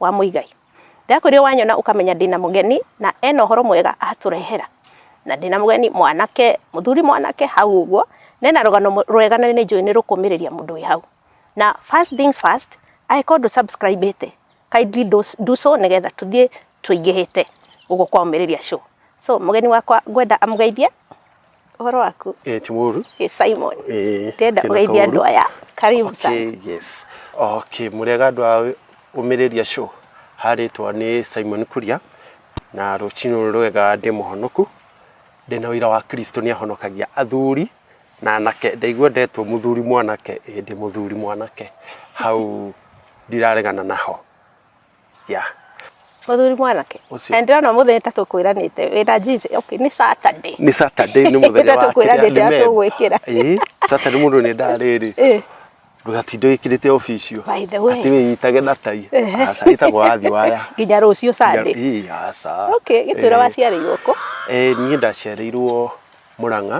wa Muigai. Ndakwĩrire wanyona ũkamenya ndĩna mũgeni na ena ũhoro mwega atũrehera. Na ndĩna mũgeni mwanake, mũthuri mwanake hau ũguo, na ena rũgano rwega na nĩ njũĩ nĩ rũkũmĩrĩria mũndũ wĩ hau. Na first things first, angĩkorwo ndũ subscribe ĩte, kindly do, do so nĩgetha tũthiĩ tũingĩhĩte ũguo kwa ũmĩrĩria show. So mũgeni wakwa ngwenda amũgeithie Ũhoro waku? Eh, ti mũru. Ĩ Simon. Eh, Ndĩrenda kena ũgeithie kaũru. andũ aya. Karibu sana. Okay, yes. Okay, mũrĩega andũ a ũmĩrĩria show. Harĩtwa nĩ Simon Kuria na rũcinĩ rũrũ rwega ndĩ mũhonoku. Ndĩ na ũira wa Kristo nĩ ahonokagia athuri na anake. Ndaigua ndetwo mũthuri mwanake, ĩĩ ndĩ mũthuri mwanake. Hau ndiraregana naho. ya muthuri mwanake Ũcio. and ndona muthenya ta tukwiranite wina jinsi okay ni saturday nĩ saturday nĩ mũthenya Nĩ wa tatũkwĩranĩte kĩrĩa, nĩ atũgwĩkĩra. Ĩĩ, saturday mũndũ nĩ ndarĩrĩ eh ndũgatinde wĩkĩrĩte obicio By the way. atĩ wĩyitage na tai Ehe. aca ĩtagwo wathi waya nginya rucio sunday Ĩĩ, aca okay gitwira Eh, waciarĩirwo kũ eh, niĩ ndaciarĩirwo mũrang'a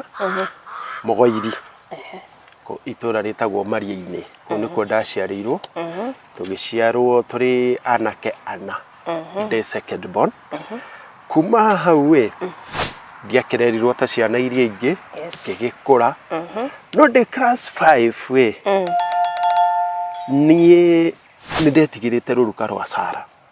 mũgoiri kũ- itũra rĩtagwo mariĩ-inĩ kũu nĩkuo ndaciarĩirwo tũgĩciarwo tũrĩ anake ana ndĩ second born kuma hau ĩ ndiakererirwo ta ciana iria ingĩ Yes. ngĩgĩkũra no ndĩ class 5 ĩ niĩ nĩ ndetigĩrĩte rũruka rwa sara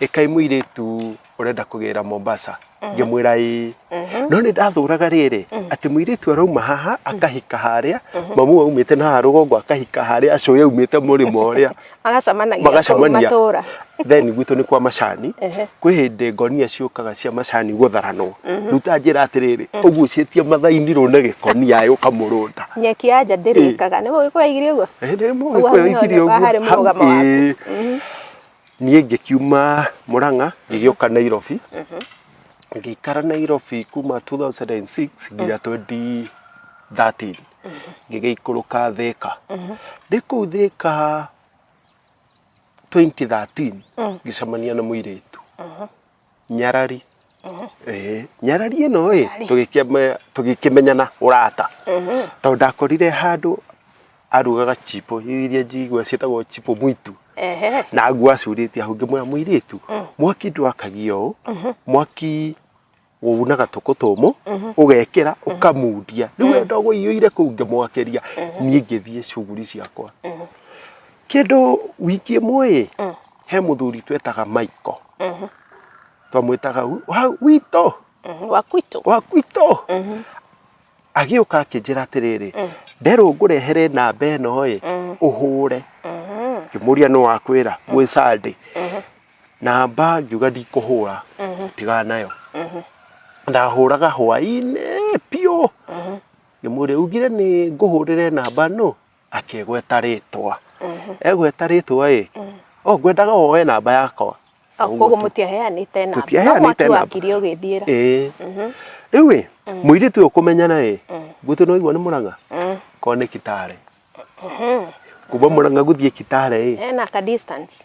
ĩkai mũirĩtu ũrenda kũgĩra mombasa ngĩmwĩra ĩĩ no nĩ ndathũraga rĩrĩ atĩ mũirĩtu arauma haha akahika harĩa mamu aumĩte na haha rũgongo akahika harĩa acũĩ aumĩte mũrĩmo ũrĩa magacemanagia kũu magacemania matũra then gwitũ nĩ kwa macani Ehe. kwĩ hĩndĩ ngonia ciũkaga cia macani gũtharanwo rĩu ta njĩra atĩrĩrĩ ũgucĩtie mathaini rũu na gĩkonia ĩ ũkamũrũnda nyeki ya nja ndĩrĩkaga nĩ mũgĩkũraigire ũguo Ĩĩ, nĩ Ũguo mũgĩkũyũ haha nĩ ikiri ũguo. harĩ mũrũgamo Hau- waku. ĩĩ. niĩ ngĩkiuma mũrang'a ngĩgĩũka nairobi ngĩikara nairobi kuma 2006 nginya 2013 ngĩgĩikũrũka thĩka ndĩ kũu thĩka 2013 ngĩcemania na mũirĩtu nyarari Eh, nyarari ĩno ĩ tũgĩkĩme- tũgĩkĩmenyana ũrata tondũ ndakorire handũ arugaga chipo iria njigua ciĩtagwo chipo mwitu Ehe. na ngua acurĩtie hau ngĩmwĩra mũirĩtu mwaki ndwakagia ũũ mwaki wunaga tũkũ tũmũ ũgekĩra ũkamundia rĩu we ndogo iyũire kũu ngĩmwakĩria niĩ ngĩthiĩ cuguri ciakwa kĩndũ wiki ĩmwe ĩ he muthuri twetaga Michael twamwĩtaga wi- wa witũ Mhm, wa kwitũ wa gwitũ agĩũka akĩnjĩra atĩrĩrĩ nderwo ngũrehere namba ĩno ĩ ũhũre ngĩmũria nĩ wakwĩra gwĩ sande namba ngiuga ndikũhũra tiga nayo ndahũraga hwainĩ biũ ngĩmũria ugire nĩ ngũhũrĩre namba nũ akĩgweta rĩtwa egweta rĩtwa ĩ o ngwendaga woe namba yakwa Ah, Ũguo koguo tu. mũtiaheanĩte namba Tũtiaheanĩte no mwaki namba. wakire ũgĩthiĩra ĩĩ rĩu ĩ mũirĩtu ũyũ kũmenyana ĩ gwitũ nĩ waigua nĩ mũrang'a Mm. korwo nĩ kitare kuma mũrang'a gũthiĩ kitare ĩ ena ka distance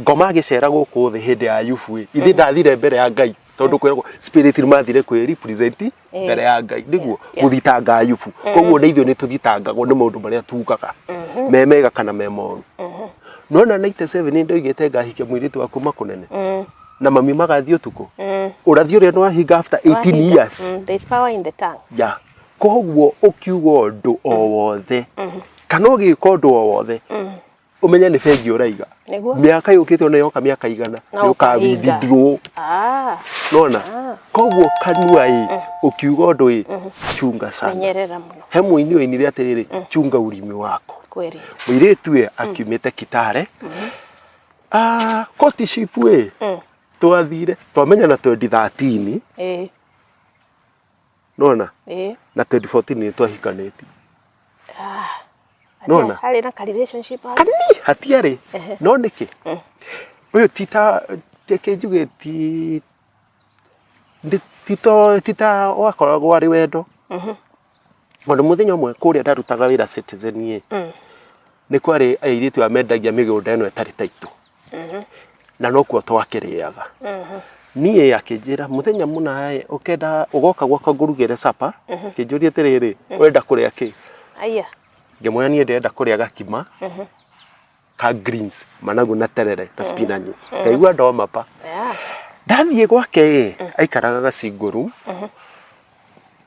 ngoma agĩcera gũkũ thĩ hĩndĩ ya ayubu ĩ ithe ndathire mbere ya ngai tondũ kwĩragwo spirit mathire kwĩ represent Eh. mbere ya ngai nĩguo Yeah. gũthitanga ayubu koguo nĩ ithuĩ nĩ tũthitangagwo nĩ maũndũ marĩa tugaga me mega kana me moru no na 97 nĩ ndoigĩte ngahike mũirĩtu wa kuma kũnene Mm, na mami magathiĩ ũtukũ mm. ũrathi ũrĩa nĩ wahinga after 18 Wahinga. years Mm, there's power in the tongue. ya koguo ũkiuga ũndũ o wothe kana ũgĩka ũndũ o wothe umenye nĩ bengi ũraiga Nĩguo. mĩaka yũkĩte ona yoka mĩaka igana Na ũkahinga. yũkawindithirwo Ah, nona koguo kanua ĩ ũkiuga ũndũ ĩ chunga sana menyerera mũno he mũini ũinire atĩrĩrĩ chunga urimi wako kweli. mũirĩtu ĩ akiumĩte kitare Ah, koti shipu ĩ Mm. twathire twamenya na 2013 Eh, nona eh na 2014 nĩ twahikanĩtie ah Nona? harĩ na ka relationship hau. kanini hatiarĩ Ehe. no nĩkĩ Mm. ũyũ tita kĩnjuge ti ndi- tito tita wakoragwo arĩ wendo Mhm. ona mũthenya ũmwe kũrĩa ndarutaga wĩra citizen ĩ Mm. nĩ kwarĩ airĩtu amendagia mĩgũnda ĩno ĩtarĩ taitũ na nokuo twakĩrĩaga niĩ akĩnjĩra mũthenya mũna ĩ, ũkenda ũgoka gwakwa ngũrugĩre capa kĩnjũria atĩrĩrĩ wenda kũrĩa kĩ Aya. ngĩmwĩra niĩ ndĩrenda kũrĩa gakima ka greens managu na terere na spinach ngaigua ndoma pa Yeah. ndathiĩ gwake ĩ aikaraga gacingũru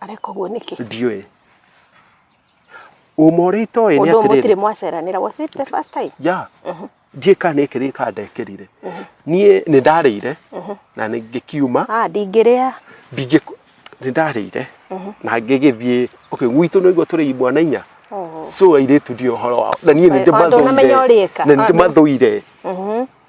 areka ũguo nĩkĩ ndiũĩ ũma ũrĩa itoĩ nĩ ũndũ mũtirĩ atĩrĩrĩ mwaceranĩra was it the first time ya njĩka nĩkĩ rĩka ndekĩrire niĩ nĩ ndarĩire na nĩ ngĩkiuma ah ndingĩrĩa ndingĩ nĩ ndarĩire na ngĩgĩthiĩ okay gwitũ nĩ ũguo tũrĩ mwana inya Oh. so airĩtu ndio ũhoro wao na niĩ nĩ Wa- ndĩmathũire ndũnamenya ũrĩka. na nĩ ndĩmathũire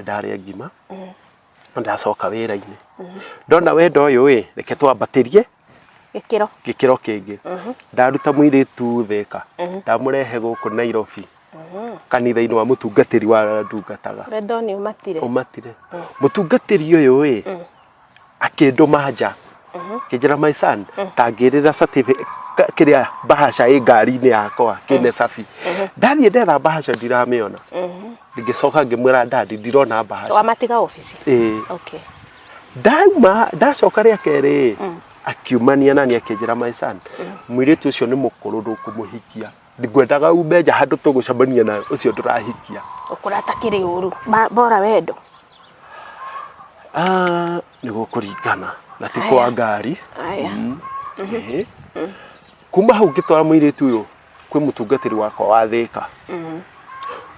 ndarĩa ngima na ndacoka wĩra-inĩ ndona wendo ũyũ ĩ reke twambatĩrie gĩkĩro gĩkĩro kĩngĩ ndaruta mũirĩtu theka ndamũrehe gũkũ Nairobi kanitha-inĩ wa mũtungatĩri wa ndungataga wendo nĩ ũmatire ũmatire mũtungatĩri ũyũ ĩ akĩndũma nja kĩnjĩra my son tangĩrĩra certificate ka- kĩrĩa bahasha ĩ ngari-inĩ yakwa kĩne cabi ndathiĩ ndetha bahasha ndiramĩona ngĩcoka ngĩmwĩra ndandi ndirona bahasha wamatiga obici Ĩĩ. okay ndauma ndacoka rĩa kerĩ akiumania nani akĩnjĩra my son mũirĩtu ũcio nĩ mũkũrũ ndũkũmũhikia ngwendaga ume nja handũ tũgũcemania na ũcio ndũrahikia ũkũra atakĩrĩ ũru Ma- bora wendo Ah, nĩ gũkũringana na ti kwa ngari aya Ĩhĩ. kuma hau ngĩtwara mũirĩtu ũyũ kwĩ mũtungatĩri wakwa wa thĩka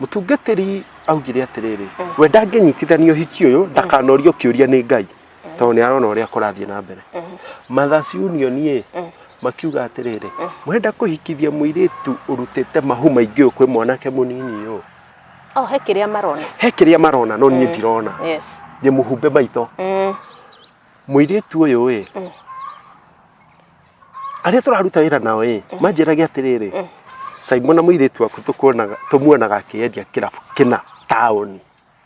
mũtungatĩri augire atĩrĩrĩ we ndangĩnyitithanio hiki ũyũ ndakanorio kĩũria nĩ ngai tondũ nĩ arona ũrĩa kũrathiĩ na mbere Mothers Union ĩ makiuga atĩrĩrĩ mũrenda kũhikithia mũirĩtu ũrutĩte mahu maingĩ ũyũ kwĩ mwanake mũnini ũyũ Oh, he kĩrĩa marona. he kĩrĩa marona no niĩ ndirona Yes. nĩ mũhumbe maitho Mm. mũirĩtu ũyũ ĩ arĩa tũraruta wĩra nao ĩ manjĩrage atĩrĩrĩ Simon na mũirĩtu waku tũkuonaga- tũmuonaga akĩendia kĩrabu kĩna taũni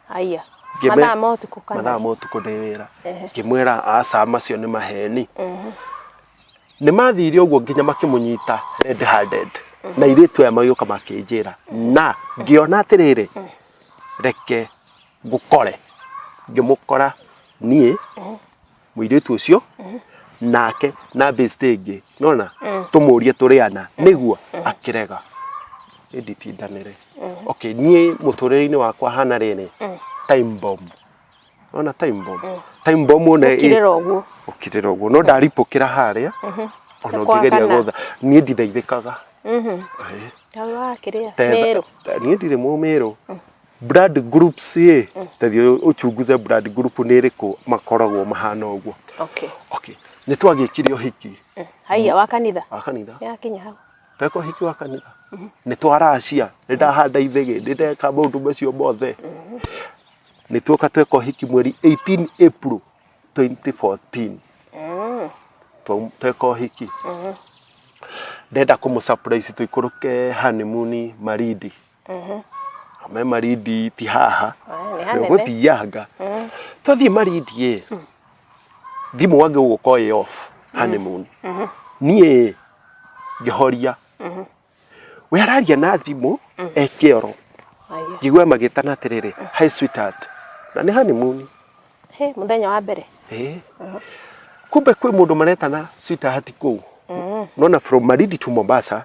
Haya. Ngĩme- Mathaa ma ũtukũ kana. mathaa ma ũtukũ ndĩ wĩra Ehe. ngĩmwĩra aca macio nĩ maheni Mhm. nĩ mathire ũguo nginya makĩmũnyita red handed na irĩtu aya magĩũka makĩnjĩra na ngĩona atĩrĩrĩ reke ngũkore ngĩmũkora niĩ mũirĩtu ũcio nake na bĩcitĩ ĩngĩ nona tũmũrie tũrĩ ana nĩguo akĩrega ĩnditindanĩre okay niĩ mũtũrĩre-inĩ wakwa hana rĩrĩ time bomb nona time bomb time bomb one ĩ- kirira uguo ũkirĩra ũguo no ndaripũkĩra harĩa ona Kwa ũngĩgeria hana. gũtha niĩ ndithaithĩkaga Ĩĩ. tawa kiria Tetha- meru niĩ ndirĩ mũmĩrũ blood groups ĩ tathiĩ ũchunguze blood group nĩ ĩrĩkũ makoragwo mahana ũguo okay okay nĩ twagĩkire ũhiki Mm. haiya wa kanitha wa kanitha yakinya hau tweka ũhiki wa kanitha nĩ twaracia nĩ ndahanda ithege nĩ ndeka maũndũ macio mothe nĩ tuoka tweka ũhiki mweri 18 April 2014 Mm. Twa- tweka ũhiki ndenda kũmũ surprise tũikũrũke honeymoon marindi me marindi ti haha Nĩ hanene. ũgũthianga tũthiĩ marindi ĩ thimũ wage ũgũka ĩ off honeymoon niĩ ngĩhoria we araria na thimũ eke oro Aiyo. ngĩgua magĩtana atĩrĩrĩ hi sweetheart na nĩ honeymoon He, mũthenya wa mbere Eh. kumbe kwĩ mũndũ maretana sweetheart kũu nona from marindi to mombasa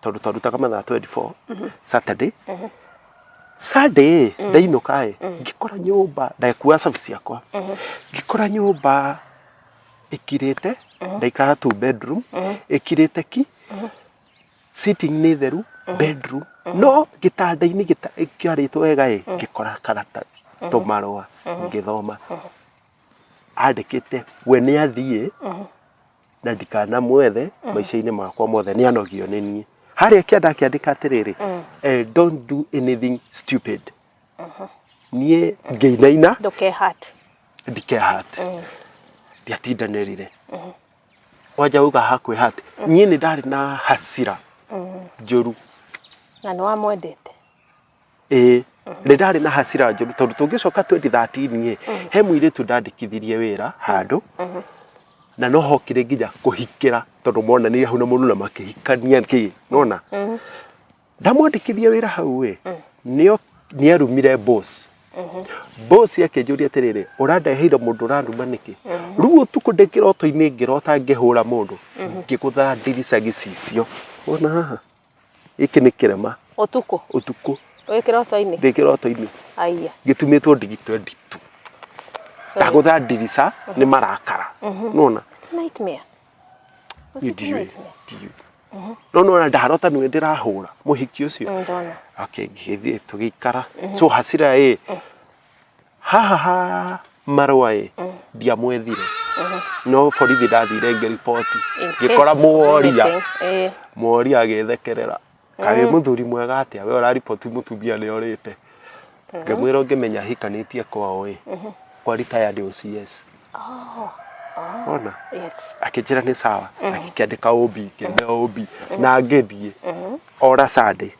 tondå twarutaga mathaa 24 saturday sunday ndainũka ĩ ngĩkora nyũmba ndakua cabi ciakwa ngĩkora nyũmba ĩkirĩte ndaikara tu bedroom ĩkirĩte ki sitting nĩ theru bedroom no gĩtanda-inĩ gĩta- kĩarĩtwo wega ĩ ngĩkora karatathi tũmarũa ngĩthoma andĩkĩte we nĩ athiĩ na ndikanamwethe maica-inĩ makwa mothe nĩ anogio nĩ niĩ harĩa kia ndakĩandĩka atĩrĩrĩ eh, don't do anything stupid niĩ ngĩinaina ndũkehati ndikehate ndiatindanĩrire wanja uga hakwĩhate niĩ nĩ ndarĩ na hasira njũru na nĩ wamwendete ĩĩ nĩ ndarĩ na hasira njũru tondũ tũngĩcoka 2013 ĩ he mũirĩtu ndandĩkithirie wĩra handũ na no hokire nginya kũhikĩra tondũ monanire hau na mũndũ na makĩhikania kĩ nona ndamwandĩkithia wĩra hau ĩ nĩo nĩarumire boss boss akĩnjũria atĩrĩrĩ ũrandeheire mũndũ ũranuma nĩkĩ rĩu ũtukũ ndĩ kĩroto-inĩ ngĩrota ngĩhũra mũndũ ngĩgũtha ndirica gĩcicio wona haha gĩkĩ nĩ kĩrema ũtukũ ũtukũ wĩ kĩroto-inĩ ndĩ kĩroto-inĩ aiya gĩtumĩtwo ndigi 22 sorry. ndagũtha ndirica nĩ marakara nona It's a nightmare Was it a ndiũĩ nightmare? ndiũĩ no nona ndarota nĩwe ndĩrahũra mũhiki ũcio Mm, ndona okay ngĩgĩthiĩ tũgĩikara so hasira ĩ haha ha marũa ĩ ndiamwethire no borithi ndathire ngĩriboti In case ngĩkora mũworia anything, eh. mworia agĩthekerera kaĩ mũthuri mwega atĩa we ũrariboti mũtumia nĩ orĩte ngĩmwĩra ũngĩmenya hikanĩtie kwao ĩ kwa retired OCS ona Yes. akĩnjĩra nĩ sawa akĩandĩka ũmbi ngĩmea ũmbi na ngĩthiĩ ora Sunday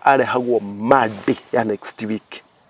arehagwo Monday ya next week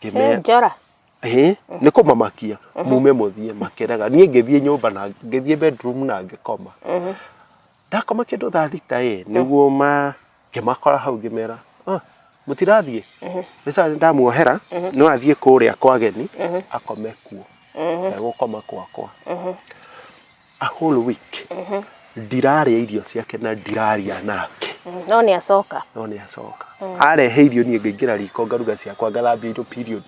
He Ngĩme- njora. Hĩ, nĩ kũmamakia mume mũthiĩ makĩraga niĩ ngĩthiĩ nyũmba na ngĩthiĩ bedroom na ngĩkoma ndakoma kĩndũ thaa thita ĩ nĩguo ma ngĩmakora hau ngĩmera "Ah, mũtirathiĩ nĩ sawa nĩ ndamuohera no athiĩ kũrĩa kwa ageni akome kuo na gũkoma kwakwa a whole week ndirarĩa irio ciake na ndiraria nake no nĩ acoka no nĩ acoka arehe irio niĩ ngaingĩra riko ngaruga ciakwa ngathambia indo period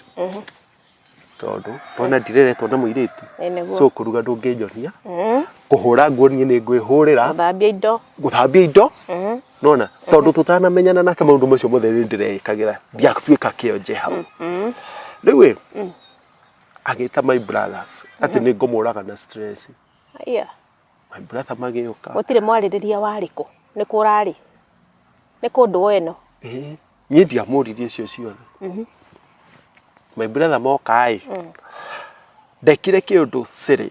tondũ ndona ndireretwo na mũirĩtu Ĩ nĩguo. so kũruga ndũngĩnyonia kũhũra nguo niĩ nĩ ngwĩhũrĩra thambia indo gũthambia indo nona tondũ tũtanamenyana nake maũndũ macio mothe nĩ ndĩreĩkagĩra ndiatuĩka kĩonje hau rĩu ĩ agĩta my brothers atĩ nĩ ngũmũraga na stress Aya, my brother magĩũka gũtirĩ mwarĩrĩria warĩ kũ nĩ kũ ũrarĩ nĩ kũ ndũũ ĩno Eh, niĩ ndiamũririe icio ciothe my brother moka-ĩ ndekire kĩũndũ sĩrĩ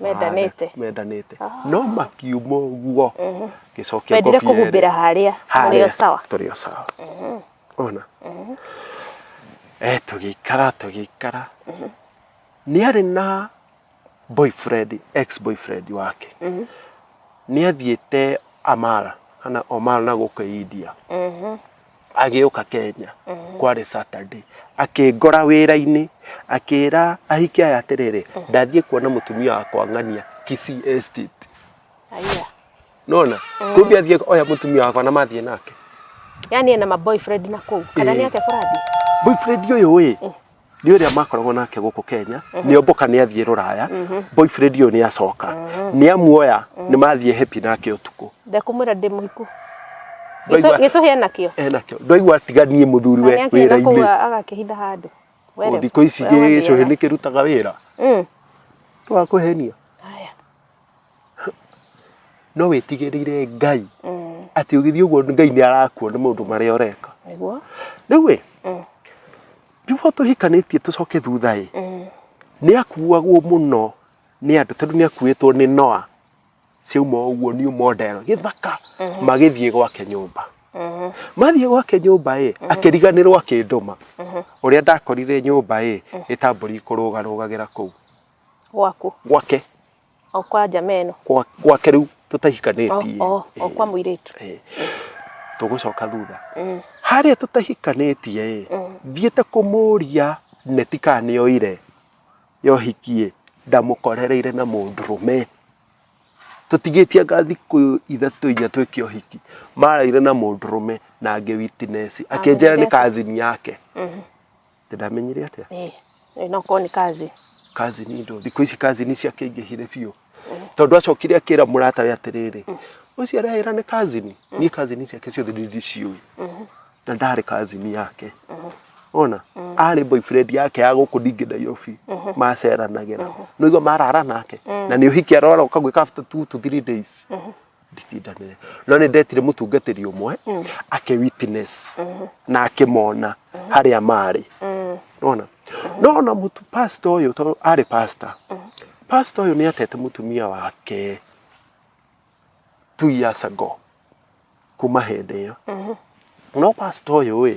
Mendanĩte. Hana, mendanĩte no makiuma ũguo gĩcokia Wendire ngobia ĩrĩ. kũhumbĩra harĩa Harĩa ũrĩ o sawa. tũrĩ o sawa ona eh tũgĩikara tũgĩikara nĩ arĩ na boyfriend ex boyfriend wake nĩ athiĩte amara kana omara na gũkũ india agĩũka kenya kwarĩ saturday akĩngora wĩra-inĩ akĩra ahiki aya atĩrĩrĩ ndathiĩ kuona mũtumia wakwa ng'ania Kisii estate Aya. nona kumbe athiĩ oya mũtumia wakwa na mathiĩ nake Yaani ena maboyfriend na kũu. Kana Eh. nĩ atĩa kũrathiĩ? boyfriend ũyũ ĩ nĩ ũrĩa makoragwo nake gũkũ kenya nĩ omboka nĩ athiĩ rũraya boyfriend ũyũ nĩ acoka nĩ amuoya nĩ mathiĩ happy nake ũtukũ ndekũmwĩra ndĩ mũhiku Ndaigua- gĩcũhĩ enakĩo enakĩo ndwaigua atiganie mũthuri we wĩra-inĩ nĩakĩgakũga agakĩhitha handũ Were- Ũũ, thikũ ici were gĩcũhĩ wathiaga. nĩ kĩrutaga wĩra Mm. twakũhenia Haya. no wĩtigĩrĩire ngai atĩ ũgĩthiĩ ũguo ngai nĩ arakuona maũndũ marĩa ũreka nĩguo rĩu ĩ Mm. before tũhikanĩtie tũcoke thutha ĩ nĩ akuagwo mũno nĩ andũ tondũ nĩ akuĩtwo nĩ noa ciauma ũguo new model gĩthaka magĩthiĩ gwake nyũmba mathiĩ gwake nyũmba ĩ akĩriganĩrwo akĩndũma ũrĩa ndakorire nyũmba ĩ ĩtambũri kũrũgarũgagĩra kũu gwaku gwake o kwa njama ĩno gwa- gwake rĩu o tũtahikanĩtie o- o kwa mũirĩtu Eh, tũgũcoka thutha Mm. harĩa tũtahikanĩtie ĩ thiĩte kũmũria neti kana nĩ oire yohikie ndamũkorereire na mũndũrũme tũtigĩtie anga thikũ ithatũ inya twĩke ũhiki maraire na mũndũrũme na angĩ witinesi akĩnjĩra nĩ Amũnyitĩte. kazini yake Ati ndamenyire atia? Eh, eh, no korwo nĩ kazi Kazi ni ndo thikũ ici kazi ni ciakĩingĩhire biũ. Tondũ acokire akĩra mũrata we atĩrĩrĩ, ũcio arehera nĩ kazi ni. Niĩ kazi ni ciake ciothe nĩ ndiciũĩ. Na ndarĩ kazi ni yake. Ona arĩ boyfriend yake ya gũkũ ndingĩ Nairobi maceranagĩra. Nĩguo marara nake. Na nĩ ũhiki arora ũkagwĩka after two to three days. nditindanĩre no nĩ ndetire mũtungatĩri ũmwe ake witness na akĩmona harĩa marĩ nona nona mũtu pasta ũyũ tondũ arĩ pasta pasta ũyũ nĩ atete mũtumia wake two years ago kuma hĩndĩ ĩyo no pasta ũyũ ĩ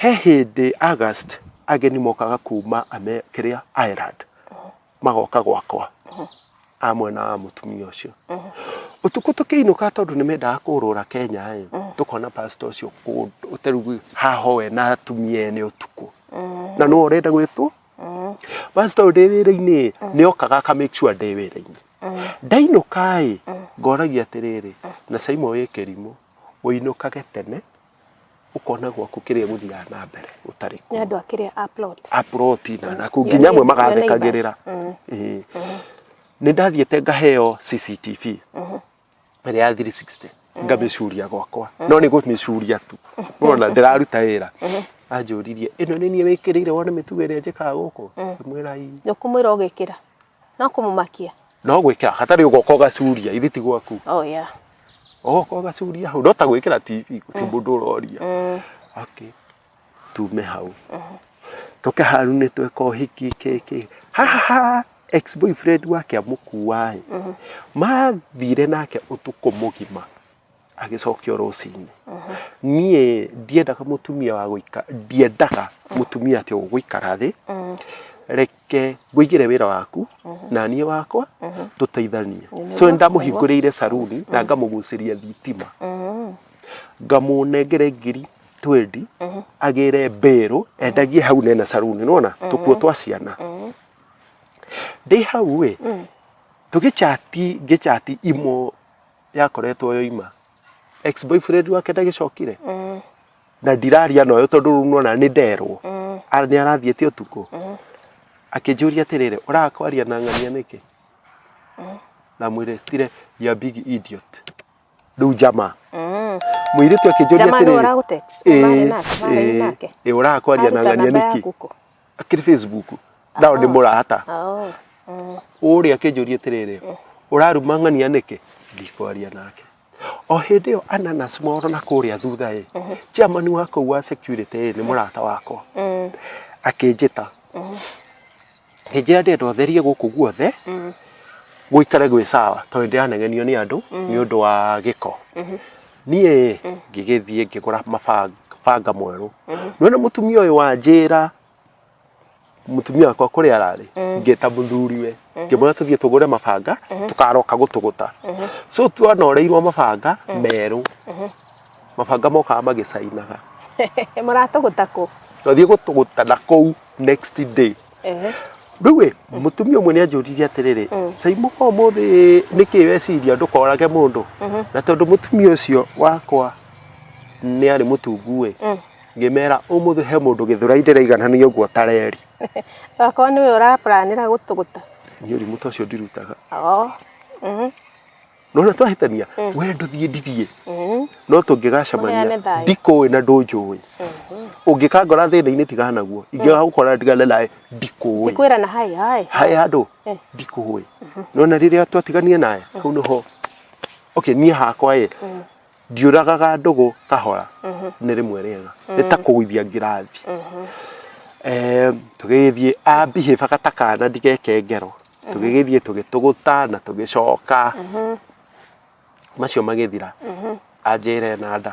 He hĩndĩ August ageni mokaga kuma ame kĩrĩa Ireland magoka gwakwa a mwena wa mũtumia ũcio ũtukũ tũkĩinũka tondũ nĩ mendaga kũrũra Kenya ĩ tũkona pastor ũcio kũ- ũterugu haho we na atumia ene ũtukũ na nĩwe ũrenda gwĩtwo pastor ũyũ ndĩ wĩra-inĩ nĩ okaga aka make sure ndĩ wĩra-inĩ ndainũka ĩ ngoragia atĩrĩrĩ na Simon wĩ kĩrimũ ũinũkage tene ũkona gwaku kĩrĩa gũthiaga na mbere gũtarĩ nĩ andũ a kĩrĩa a plot aproti na naku nginya amwe magathekagĩrĩra Ĩĩ. nĩ ndathiĩte ngaheo cctv ĩrĩa ya 360 ngamĩcuria gwakwa no nĩ gũmĩcuria tu nona ndĩraruta wĩra anjũririe ĩno nĩ niĩ wĩkĩrĩire wone mĩtugo ĩrĩa njĩkaga gũkũ ngĩmwĩra ii nĩũkũmwĩra ũgĩkĩra no kũmũmakia no gwĩkĩra hatarĩ ũgoka ũgacuria ithe ti gwaku oh yeah ũgoka ũgacuria hau no ta gwĩkĩra tv ti mũndũ ũroria mm. okay tume hau toke haru nĩ tweka ũhiki kĩkĩ haha ex boyfriend wake amũkuaĩ mathire nake ũtukũ mũgima agĩcokio rũcinĩ niĩ ndiendaga mũtumia wa gũika ndiendaga mũtumia atĩ ũgũikara thĩ reke ngũigĩre wĩra waku na niĩ wakwa tũteithanie Nĩ so nĩ ndamũhingũrĩire saruni na ngamũgucĩria thitima ngamũnengere ngiri twendi agĩre mbĩrũ endagie hau nene saruni nona tũkuo twa ciana ndĩ hau ĩ tũgĩchati ngĩchati imo yakoretwo yoima ex boyfriend wake ndagĩcokire Mm, na ndiraria noyo tondũ rĩu nona nĩ nderwo mm, Ara nĩ arathiĩte ũtukũ mm. akĩnjũria atĩrĩrĩ ũrakwaria na ng'ania nĩkĩ na mwĩrĩtire ya big idiot rĩu njama Mm. mũirĩtu akĩnjũria Jamaa ndio atĩrĩrĩ ũragũtext. Ũmarĩ nake, ũmarĩ nake. ũrakwaria na Aruta ng'ania namba nĩkĩ yaku kũ? akiri facebook ndao ndi murata Oh. Mm. uria akinjuria atiriri uraruma ng'ania niki ndikwaria nake o hindi yo ananas moro na kuria thutha i chairman wa kuu wa security ni murata wakwa Mm. akinjita hinjira ndi andu atherie guku guothe Mm. guikare gwi sawa tondu ndiranegenio ni andu ni undu wa giko niĩ ngĩgĩthiĩ ngĩgũra mabanga banga mwerũ nĩwona mũtumia ũyũ wanjĩra mũtumia wakwa kũrĩa ararĩ ngĩta mũthuriwe ngĩmwĩra tũthiĩ tũgũre mabanga tũkaroka gũtũgũta so twanoreirwo mabanga merũ mabanga mokaga magĩcainaga maratũgũta kũ twathiĩ gũtũgũta na kũu next day Ehe. rĩu ĩ mũtumia ũmwe nĩ anjũririe atĩrĩrĩ Mm. caimũ kwa ũmũthĩ nĩkĩ weciria ndũkorage mũndũ Mhm. na tondũ mũtumia ũcio wakwa nĩ arĩ mũtungu ĩ Mm. ngĩmera ũmũthĩ he mũndũ gĩthũrai ndĩraiganania ũguo tareri Okorwo nĩwe ũrapuranĩra gũtũgũta. niĩ ũrimũ ta ũcio ndirutaga Oo. Mhm. nona twahĩtania we ndũthiĩ ndithiĩ Mhm. no Mũheane tũngĩgacamania thayũ. ndikũĩ na ndũnjũĩ ũngĩkangora thĩna-inĩ tigana naguo ingĩgagũkora ndigane nawe ndikũĩ Ndikwĩra na hai hai. hae handũ Eh. ndikũĩ nona rĩrĩa twatiganire nawe hau nĩho okay niĩ hakwa ĩ ndiũragaga ndũgũ kahora mhm. nĩ rĩmwe rĩega mm. nĩ ta kũgũithia ngirathi mhm. eh, tũgĩgĩthiĩ ambihĩba gata kana ndigeke ngero mhm. tũgĩgĩthiĩ tũgĩtũgũta na tũgĩcoka macio magĩthira anjĩre na nda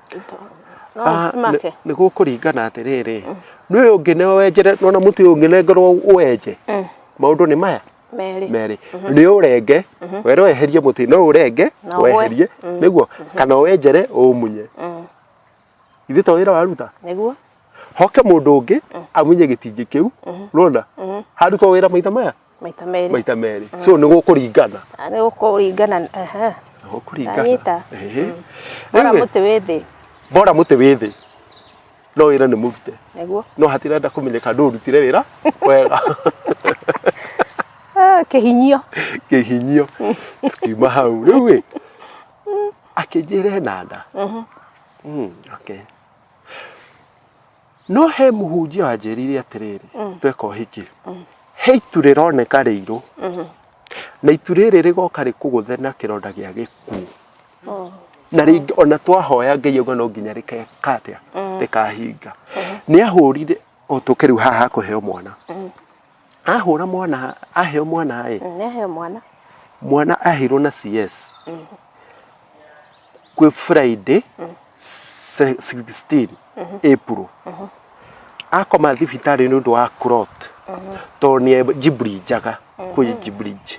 No Ah, nĩ- make. nĩ gũkũringana atĩrĩrĩ nĩ ũyũ ũngĩ nĩ wenjere nona mũtĩ ũyũ ũngĩ nengerwo ũwenje maũndũ nĩ maya Merĩ. merĩ nĩ ũrenge were weherie mũtĩ no ũrenge Na ũgwe. weherie nĩguo kana wenjere ũmunye ithuĩ to wĩra waruta Nĩguo. hoke mũndũ ũngĩ amunye gĩtingĩ kĩu rona harutwo wĩra maita maya maita merĩ maita merĩ so nĩ gũkũringana Ah, nĩ gũkũringana ehe. Nĩ Anyita. gũkũringana Ehe. Bora Anyway, mũtĩ wĩ thĩ bora mũtĩ wĩ thĩ no wĩra nĩ mũrute nĩguo no hatirenda kũmenyeka ndũ ũrutire wĩra wega Ah, kĩhinyio kĩhinyio tukiuma hau rĩu ĩ akĩnjĩra ena nda Mm, okay no he mũhunjia wanjĩrire atĩrĩrĩ mm. tweka ũhiki mm. he itu rĩroneka rĩirũ mm-hmm. na itu rĩrĩ rĩgoka rĩkũgũthe na kĩronda gĩa gĩkuũ oh. na rĩngĩ ona twahoya ngai auga no nginya rĩkekatĩa mm. rĩkahinga mm-hmm. nĩ ahũrire o tũkĩrĩu haha kũheo mwana Ahũra mwana aheo mwana ĩ. Mm, Nĩaheo mwana. Mwana ahirwo na CS. Mm. Kwĩ Friday mm. 16 mm -hmm. April. Mm -hmm. Akoma thibitarĩ nĩ ũndũ wa clot. Mm -hmm. Tondũ nĩ Ghibli njaga mm -hmm. kwĩ Ghibli. Mm -hmm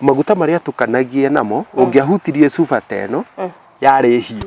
maguta marĩa tukanagia namo mm. ũngĩahutirie cuba ta ĩno mm. yarĩ hiũ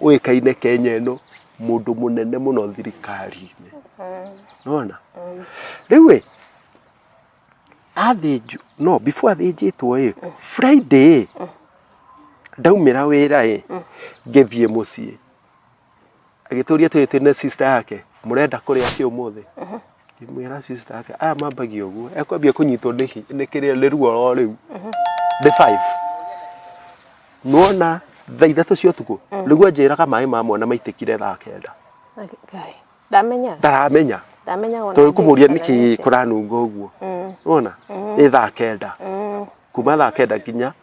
ũĩkaine Kenya ĩno mũndũ mũnene mũno thirikari-inĩ nona rĩu ĩ athĩnjwo no before athĩnjĩtwo ĩ Friday ĩ ndaumĩra wĩra ĩ ngĩthiĩ mũciĩ agĩtũria tũrĩ twĩna sister yake mũrenda kũrĩa kĩ ũmũthĩ Ngĩmwĩra sister yake aya mambagia ũguo ekwambia kũnyitwo nĩ hi- nĩ kĩrĩa nĩ ruo ro rĩu ndĩ five nuona thaa ithatũ cia ũtukũ nĩguo anjĩraga maĩ ma mwana maitĩkire thaa kenda Ngai. Ndamenya. ndaramenya Ndamenya ona. tondũ kũmũria ndĩkana nĩkĩ nĩkĩ. kũranunga ũguo Mm. nuona nĩ thaa kenda Mm. kuma thaa kenda nginya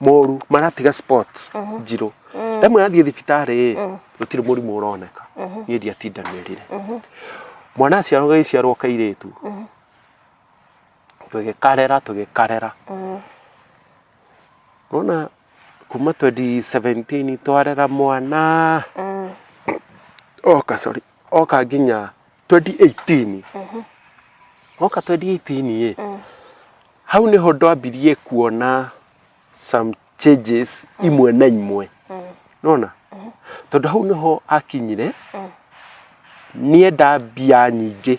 moru maratiga sports njirũ ndamwe yathiĩ thibitarĩ ĩ gũtirĩ mũrimũ ũroneka niĩ ndiatindanĩrire mwana aciarwo gagĩciarwo kairĩtu tũgĩkarera tũgĩkarera nona kuma 2017 twarera mwana oka sorry oka nginya 2018 woka 2018 ĩ hau nĩho ndwambirie kuona some changes imwe na imwe nona tondũ hau nĩho akinyire nienda mbia nyingĩ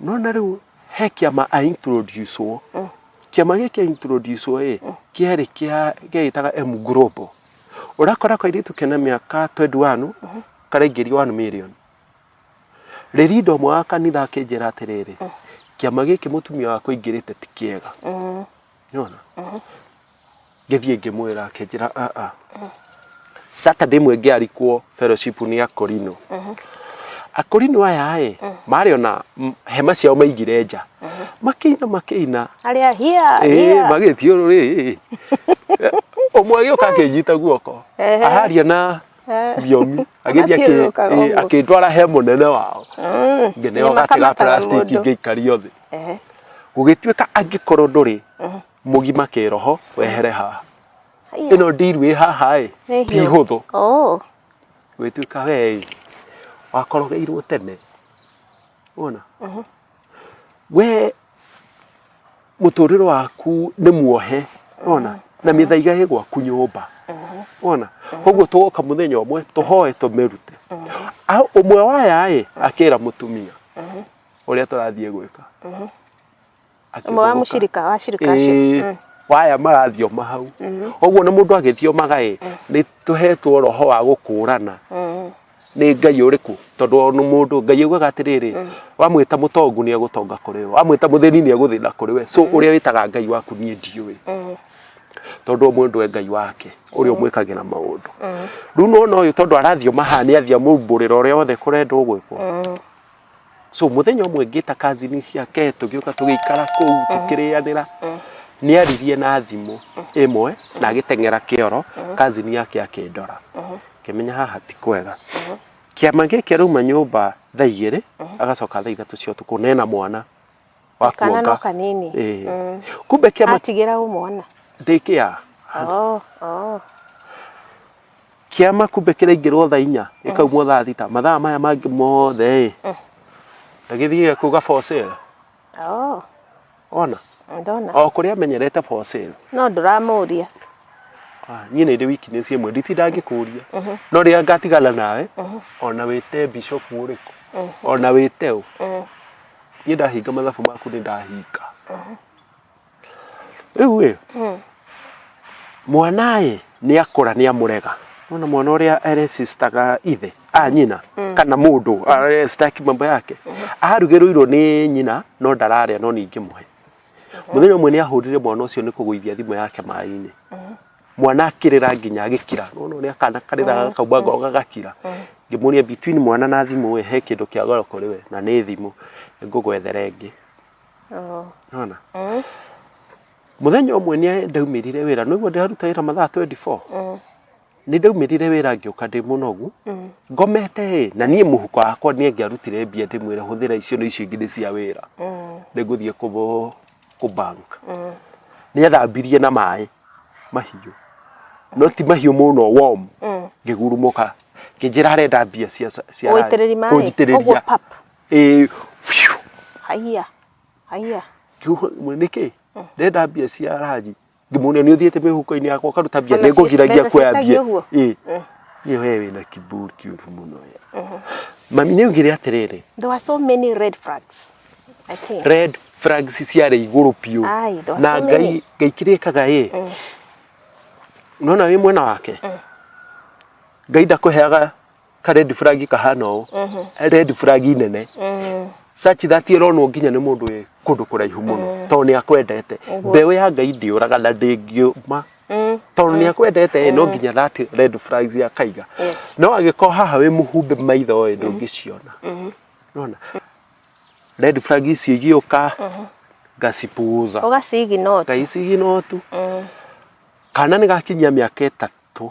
no na rĩu he kĩama a introduce wo kĩama gĩkĩ a introduce wo ĩ kĩarĩ kĩa gĩgĩtaga M Global ũrakora kairĩtu kena mĩaka 21 karaingĩria 1 million rĩrinda ũmwe wa kanitha akĩnjĩra atĩrĩrĩ kĩama gĩkĩ mũtumia wakwa aingĩrĩte ti kĩega nĩwona ngĩthiĩ ngĩmwĩra akĩnjĩra aa saturday ĩmwe ngĩarikwo fellowship nĩ akorino akorino aya ĩ marĩ ona m- hema ciao maigire nja makĩina makĩina Arĩa hia Ĩĩ, hia. magĩthiũrũrĩ ũmwe agĩũka akĩnyita guoko Ehe. aharia na Eh. thiomi agĩthiĩ akĩ- Agathiũrũrũkaga ĩĩ, ũguo. akĩndwara he mũnene wao Mm. ngĩneo Nĩ gate ga makamataga plastic mũndũ. ngĩikario thĩ gũgĩtuĩka angĩkorwo ndũrĩ mhm. mũgima kĩroho wehere haha ĩno ndiru ĩ haha ĩ ti hũthũ oh. gwĩtuĩka we ĩ wakorogeirwo tene wona mhm. we mũtũrĩre waku nĩ muohe wona mhm. na mĩthaiga ĩ gwaku nyũmba wona koguo tũgoka mũthenya ũmwe tũhoe tũmĩrute ũmwe waya ĩ akĩra mũtumia ũrĩa tũrathiĩ gwĩka Mhm. Ũmwe wa Akĩgũrũka. mũcirika wa cirika Ĩĩ, acio. Mm. waya marathioma hau Mhm. ũguo na mũndũ agĩthiomaga ĩ nĩ tũhetwo roho wa gũkũrana Mm. nĩ ngai ũrĩkũ tondũ o nĩ mũndũ ngai augaga atĩrĩrĩ wamwĩta mũtongu nĩ egũtonga kũrĩ we wamwĩta mũthĩni nĩ egũthĩna kũrĩ we so ũrĩa wĩtaga ngai waku niĩ ndiũĩ Mm. tondũ o mũndũ e ngai wake ũrĩa ũmwĩkagĩra maũndũ Mm. rĩu nona ũyũ tondũ arathioma haha nĩ athiamũmbũrĩra ũrĩa wothe kũrendwo gwĩkwo Mm. so muthenya ũmwe ngĩta kazini ciake tũgĩũka tũgĩikara kũu tũkĩrĩanĩra nĩ aririe na thimũ ĩmwe na agĩteng'era kĩoro kazini yake akĩndora kĩmenya haha ti kwega kĩama gĩkĩ arauma nyũmba thaa igĩrĩ agacoka thaa ithatũ cia ũtukũ na ena mwana wa kana no kuonga kanini Ĩĩ. Mm. kumbe kĩama atigĩra ũmwana ndĩkĩa oh, oh. kĩama kumbe kĩraingĩrwo thaa inya gĩkaumwo thaa thita mathaa maya mangĩ mothe ĩ Mm. ndagĩthiaga kuga for sale Oh, ona ndona. o kũrĩa amenyerete for sale No ndũramũria. Ah, niĩ nĩ ndĩ wiki nĩ ciĩmwe nditinda ngĩkũria Mhm. no rĩrĩa ngatigana nawe Mhm. ona wĩte bishop ũrĩkũ Mhm. ona wĩte ũ Mm. niĩ ndahinga mathabu maku nĩ ndahinga rĩu ĩ Mm. mwana ĩ nĩ akũra nĩ amũrega ona mwana ũrĩa aresistaga ithe a nyina kana mũndũ aresita kimambo yake arugĩrũirwo nĩ nyina no ndararĩa no ningĩ mũhe mũthenya ũmwe nĩ ahũrire mwana ũcio nĩ kũgũithia thimũ yake maĩ-inĩ mwana akĩrĩra nginya agĩkira nona ũrĩa kana karĩra kaumba ngoro gagakira ngĩmũria between mwana na thimũ we he kĩndũ kĩa goro kũrĩ we na nĩ thimũ ngũgwethere ĩngĩ Oo. nona Mm. mũthenya ũmwe nĩ ndaumĩrire wĩra nĩguo ndĩraruta wĩra mathaa 24 Mm. nĩ ndaumĩrire wĩra ngĩũka ndĩ mũnogu Mm. ngomete ĩ na niĩ mũhuko wakwa nĩ ngĩarutire mbia ndĩmwĩra hũthĩra icio na icio ingĩ nĩ cia wĩra Mm. nĩ ngũthiĩ kũ kũ bank Mm. nĩ athambirie na maĩ mahiũ no ti mahiũ mũno warm Mm. ngĩgurumũka ngĩnjĩra arenda mbia cia cia Ũitĩrĩri maĩ? Ũguo kũnjitĩrĩria pap? eh haiya haiya kiugo mwe niki ndenda mbia cia ranji ngimuria ni uthiite mihuko-ini yakwa ukaruta mbia Ona ni ngugiragia mbeca kuoya ciĩtagia mbia ũguo? ii Mm. ni we wina kiburi kiuru muno we mami ni ugire atiriri there were so many red flags i think red flags ciarĩ igũrũ biũ Ai, there were na so many. ngai ngai kĩrĩa ĩkaga ĩ Mm. nona wĩ mwena wake ngai ndakũheaga ka red flag kahana ũũ red flag nene Mm. sachi thati ĩronwo nginya nĩ mũndũ wĩ kũndũ kũraihu mũno tondũ nĩ akwendete mbeũ ya ngai ndĩũraga na ndĩngiũma Mm. tondũ nĩ akwendete no nginya thati red flags akaiga Yes. no agĩkorwo haha wĩ mũhumbe maitho ĩ ndũngĩciona nona red flag icio igĩũka ngacipuuza Ũgacigi no. ngaiciginotu Mm. kana nä gakinyia mä aka ä tatå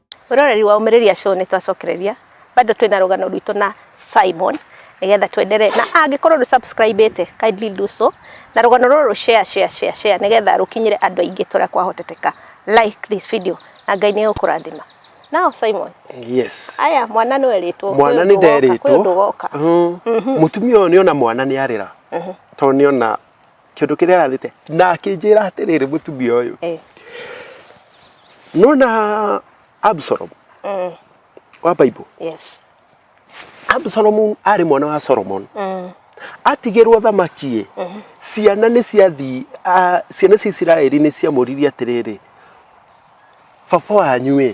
Roreri wa Umĩrĩria Show nĩ twacokereria bado twĩna rũgano rwitũ na Simon nigetha twendere na angĩkorwo ndũ subscribe ĩte kindly do so na rũgano rũrũ share share share share nigetha rũkinyire andũ aingĩ tũrĩa kwahoteteka like this video na Ngai nĩ ũkũrathima Now Simon. Yes. Aya mwana nĩ werĩtwo. Mwana nĩ nderĩtwo. Kwĩ ũndũ goka. Mm-hmm. Mm-hmm. Mũtumia ũyũ nĩ ona mwana nĩ arĩra. Mm-hmm. Tondũ nĩ ona kĩndũ kĩrĩa ararĩte na akĩnjĩra atĩrĩrĩ mũtumia ũyũ Eh. nona absalom Mm. wa bible Yes. absalom arĩ mwana wa solomon Mm. atigĩrwo thamaki ciana nĩ ciathiĩ ah, ciana cia isiraeli nĩ ciamũririe atĩrĩrĩ baba wanyu ĩ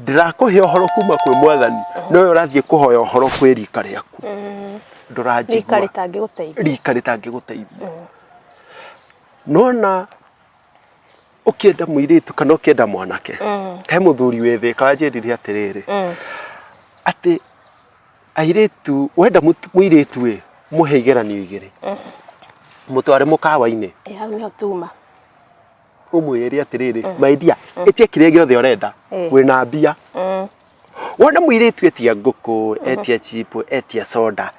ndirakũhe ũhoro kuma kwĩ mwathani no ũyũ ũrathiĩ kũhoya ũhoro kwĩ rika rĩaku rika ndũranjigua rĩtangĩgũteithia rika rĩtangĩgũteithia nona ũkĩenda mũirĩtu kana ũkĩenda mwanake he mũthuri wĩthĩka wanjĩrire atĩrĩrĩ Mm. atĩ airĩtu wenda mũtu- mũirĩtu ĩ mũhe igeranio igĩrĩ mũtware mũkawa-inĩ Ĩ, hau nĩho tuma umwirire atiriri my dear itie kiria giothe urenda Eh. wina mbia Mm. wona mwiritu etia nguku etia chipu etia soda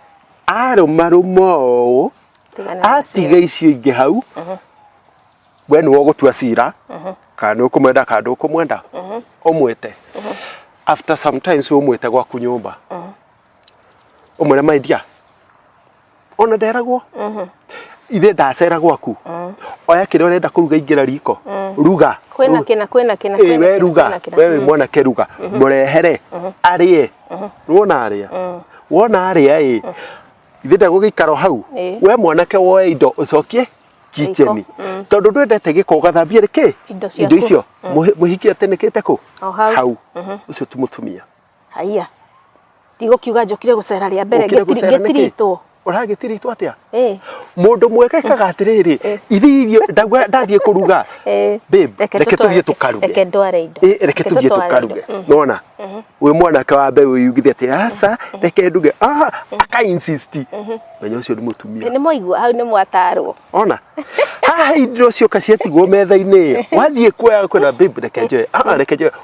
arumaruma uu Tigana na atiga icio ingĩ hau we nĩwe ũgũtua cira kana nĩ ũkũmwenda kana ndũkũmwenda ũmwĩte after sometimes ũmwĩte gwaku nyũmba ũmwĩre my dear ona nderagwo ithe ndacera gwaku oya kĩrĩa ũrenda kũruga ingĩra riko ruga kwĩna kĩna kwĩna kĩna Ĩĩ, kwĩna we kĩna, ruga kwĩna kĩna. we wĩ mwanake ruga mũrehere arĩe wona arĩa wona arĩa ĩ ithe ndegũgĩikara o hau Ĩĩ. we mwanake woe indo ũcokie kicheni tondũ ndwendete gĩko ũgathambia rĩkĩ Indo ciaku. icio Mũhi- mũhiki atĩnĩkĩte kũ O hau. hau ũcio ti mũtumia Haiya. Ndigũkiuga njũkire gũcera rĩa mbere Ũkire ngĩtiri- gũcera nĩkĩ? ngĩtiritwo. Ũragĩtiritwo atĩa? Ĩĩ. Mũndũ mwega ekaga atĩrĩrĩ, Eh. ithiĩ irio ndauga ndathiĩ kũruga. Ĩĩ. Babe, Reke reke tũtware- tũthiĩ tũkaruge. Reke ndware indo. Eh, reke tũthiĩ tũtware tũkaruge. indo. Mm. Nona? Wĩ mwanake wa mbeũ yugithia atĩ aca, reke nduge. Ah, aka insist. Menya ũcio nĩ mũtumia. Nĩ mwaigua hau nĩ mwatarwo. ona haha indo cioka ciatigwo metha-inĩ ĩyo wathiĩ kuoya kwĩna babe reke njoe ah reke njoe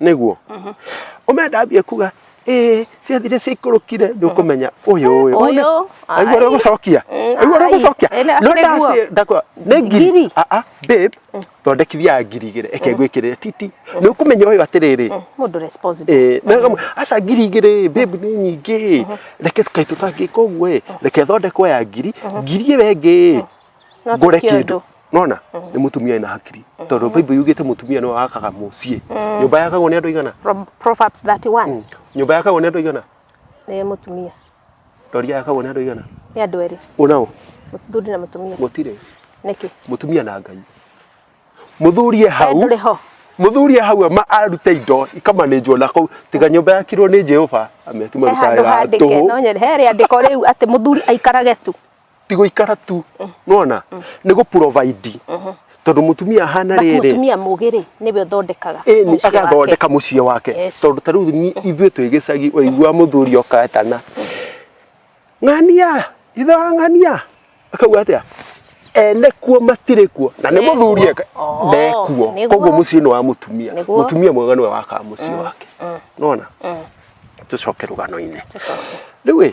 niguo mhm. umenda ambie kuga eh ciathire ciaikũrũkire nĩ ũkũmenya ũyũ ũyũ ũyũ aigua ũrĩa ũgũcokia mm, aigua ũrĩa ũgũcokia no ndakwa nĩ ngiri aa ah, ah, babe mm. thondekithia ngiri igĩrĩ eke mm. ngwĩkĩrĩre titi nĩ ũkũmenya ũyũ atĩrĩrĩ mũndũ responsible eh, aca ngiri igĩrĩ babe nĩ nyingĩ mm-hmm. reke kaitũ tangĩka ũguo ĩ reke thondekwo ya ngiri mm-hmm. ngiri ĩyo ĩngĩ No ti ngore kĩndũ. kĩndũ nona nĩ mũtumia ena hakiri tondũ bible yugĩte mũtumia nĩ wakaga mũciĩ nyũmba yakagwo nĩ andũ aigana From Proverbs 31 nyũmba yakagwo nĩ andũ aigana nĩ mũtumia ndoria yakagwo nĩ andũ aigana nĩ andũ erĩ ũnao mũthuri na mũtumia mũtirĩ nĩkĩ mũtumia na ngai mũthuri e hau ndũrĩ ho mũthuri e hau ama arute indo ikamanĩnjwo na kũu tiga nyũmba yakirwo nĩ jehova amĩaki he handũ marutaga handĩke tũhũ no nyone he rĩandĩko rĩu atĩ mũthuri aikarage tu ti guikara tu nona ni gu provide tondu mutumia hana But riri mutumia mũgĩ rĩ nĩwe ũthondekaga ĩni mũciĩ wake. agathondeka muciĩ wake Yes. tondu ta riu ni- ithuĩ twĩ gĩcagi waigua muthuri okatana ng'ania ithe wa ng'ania akauga atia ene kuo matirĩ kuo na nĩ Nekuo. muthuri eka- Oh, ndekuo nĩguo. koguo muciĩ nĩ wa mutumia Nĩguo. mutumia mwega nĩwe wakaga muciĩ wake nona tũcoke rũgano-inĩ Tũcoke. rĩu ĩ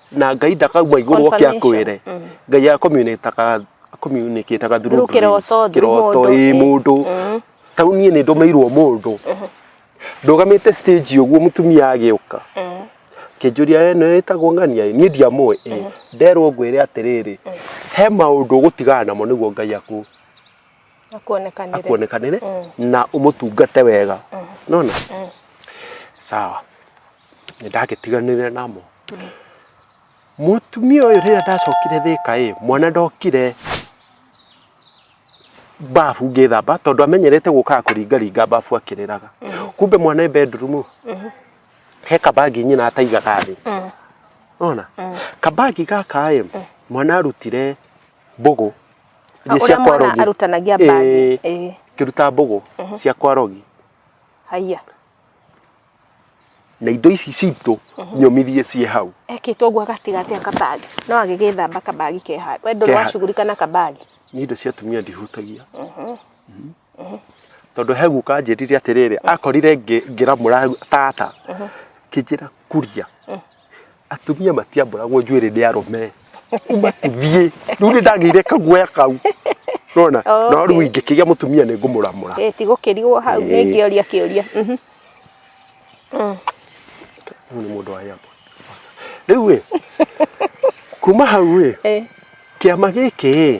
na ngai ndakauma igũrũ oke Confirmation. akwĩre Mm. ngai akomunĩtaga akomunĩkĩtaga Through kĩroto, through kĩroto mũndũ, ĩ ĩ. mũndũ Mm. tau niĩ nĩ ndũmĩirwo mũndũ ndũgamĩte stage ũguo mũtumia agĩũka Mm. kĩnjũria we nĩ wĩtagwo ng'ania ĩ?" niĩ ndiamũĩ ĩ nderwo ngwĩre atĩrĩrĩ he maũndũ ũgũtigana namo nĩguo ngai aku akuonekanire akuonekanĩre na ũmũtungate wega nona sawa nĩ ndagĩtiganire namo. Mũtumia ũyũ rĩrĩa ndacokire thĩka ĩ, mwana ndokire babu ngĩthamba tondũ amenyerete gũkaga kũringaringa babu akĩrĩraga. Kumbe mwana e bedroom he kabagi nyina ataigaga thĩ. Ona kabagi gaka ĩ, mwana arutire mbũgũ iria Ũrĩa cia mwana kwarogi. arutanagia mbagi. Ĩĩ, Ĩĩ. Akĩruta mbũgũ cia kwarogi. Haiya. na indo ici citũ nyũmithie ciĩ hau ekĩtwo ũguo gatigatĩ akabagi no agĩgĩthamba kabagi ke handũ we ndũrĩ Ke handũ. wacugurika na kabagi nĩ indo cia atumia ndihutagia Mhm. tondũ he guka anjĩrire atĩrĩrĩ akorire ngĩ- ngĩramũra tata kĩnjĩra kuria atumia matiambũragwo njuĩrĩ nĩ arũme umatithie rĩu nĩ ndagĩire kaguoya kau rona no rĩu Okay. ingĩkĩgĩa mũtumia nĩ ngũmũramũra Eh, ti gũkĩrigwo hau nĩ Eh. ingĩoria kĩũria Mhm. Mm. Ũyũ nĩ mũndũ wa yamba rĩu ĩ kuma hau ĩ Eh, kĩama gĩkĩ ĩ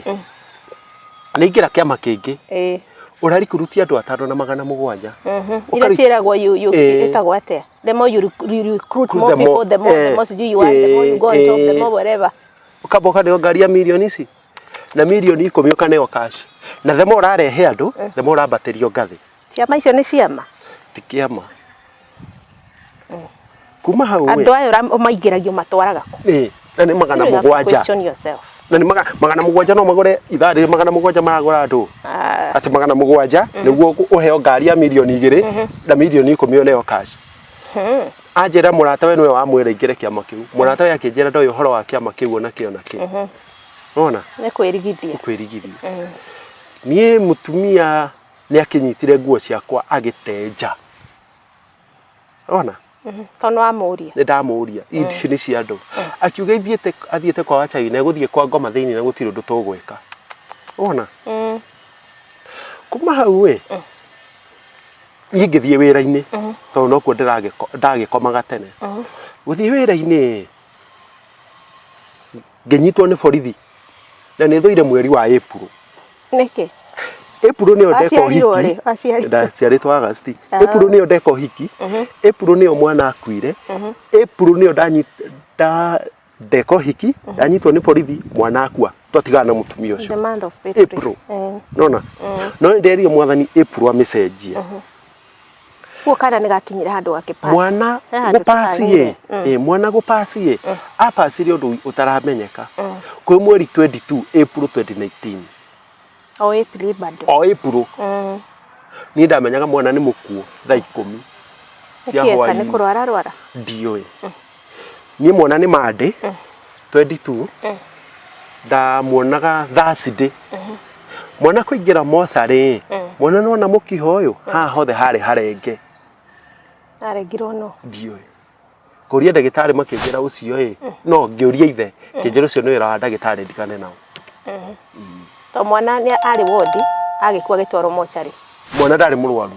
nĩ ingĩra kĩama kĩngĩ eh, ũrarikuruti andũ atano na magana mũgwanja mhm. Ũkari- iria ciĩragwo yu- yu- Eh. ĩtagwo atĩa the more you, rec- you recruit Recruit more the more- people the more eh, the more sijui you are the more you go on top the eh, more whatever ukamba ukaneo ngari ya milioni ici na milioni ikumi ukaneo cash na themo ũrarehe andũ themo ũrambatĩrio ngathĩ ciama icio nĩ ciama ti kĩama kuma hau andũ aya ũra- ũmaingĩragio matwaraga kũ ĩ na nĩ magana You have to mũgwanja question yourself. na nĩ maga- magana mũgwanja no magũre ithaa rĩrĩ magana mũgwanja maragũra andũ Ah, atĩ magana mũgwanja nĩguo ũkũ- ũheo ngari ya mirioni igĩrĩ na mirioni ikũmi oneyo cash hmm. anjĩra mũrata we nĩwe wamwĩra ingĩre kĩama kĩu mũrata we akĩnjĩra ndoĩ ũhoro wa kĩama kĩu ona kĩ ona kĩ nona nĩ kwĩrigithia kwĩrigithia Mm. niĩ mũtumia nĩ akĩnyitire nguo ciakwa agĩtenja ona to nä wamå nä ndamũria Eid ici nĩ cia andũ akiuga ithiĩte athiĩte kwa wachai na egũthiĩ kwa ngoma thĩinĩ na gũtirĩ ũndũ tũgwĩka ona kuma hau ĩ niĩ ngĩthiĩ wĩra-inĩ tondũ nokuo ndĩragĩko- ndagĩkomaga tene gũthiĩ wĩra-inĩ ĩ ngĩnyitwo nĩ borithi na nĩ thũire mweri wa April nĩkĩ April nĩyo ndeka Waciarirwo ũhiki rĩ? Waciarirwo. ndaciarĩtwo August Ah. April nĩyo ndeka ũhiki April nĩyo mwana akuire April nĩyo ndanyi- nda- ndeka ũhiki ndanyitwo nĩ borithi mwana akua twatigana na mũtumia ũcio the month of April. April. Eh. nona no nderie mwathani April amĩcenjie Kuo kana nĩ gakinyire handũ gakĩpass. mwana He handũ gũpasi ye kagire. Mm. Eh, mwana gũpasi ye apasire ũndũ ũtaramenyeka kwĩ mweri 22 April 2019 O April bado. o April Mm. niĩ ndamenyaga mwana nĩ mũkuo thaa ikũmi cia Nĩkĩo eka nĩ hwainĩ kũrwara rwara. ndiũĩ niĩ mwana nĩ mandĩ 22 ndamuonaga thursday mwana kũingĩra mocarĩ mwana nona mũkiha ũyũ haha hothe harĩ harenge arengirwo no ndiũĩ kũria ndagĩtarĩ makĩnjĩra ũcio ĩ no ngĩũria ithe kĩnjĩra ũcio nĩ wĩra wa ndagĩtarĩ ndigane nao to mwana nĩ arĩ wondi agĩkua agĩtwarwo mocarĩ mwana ndarĩ mũrwaru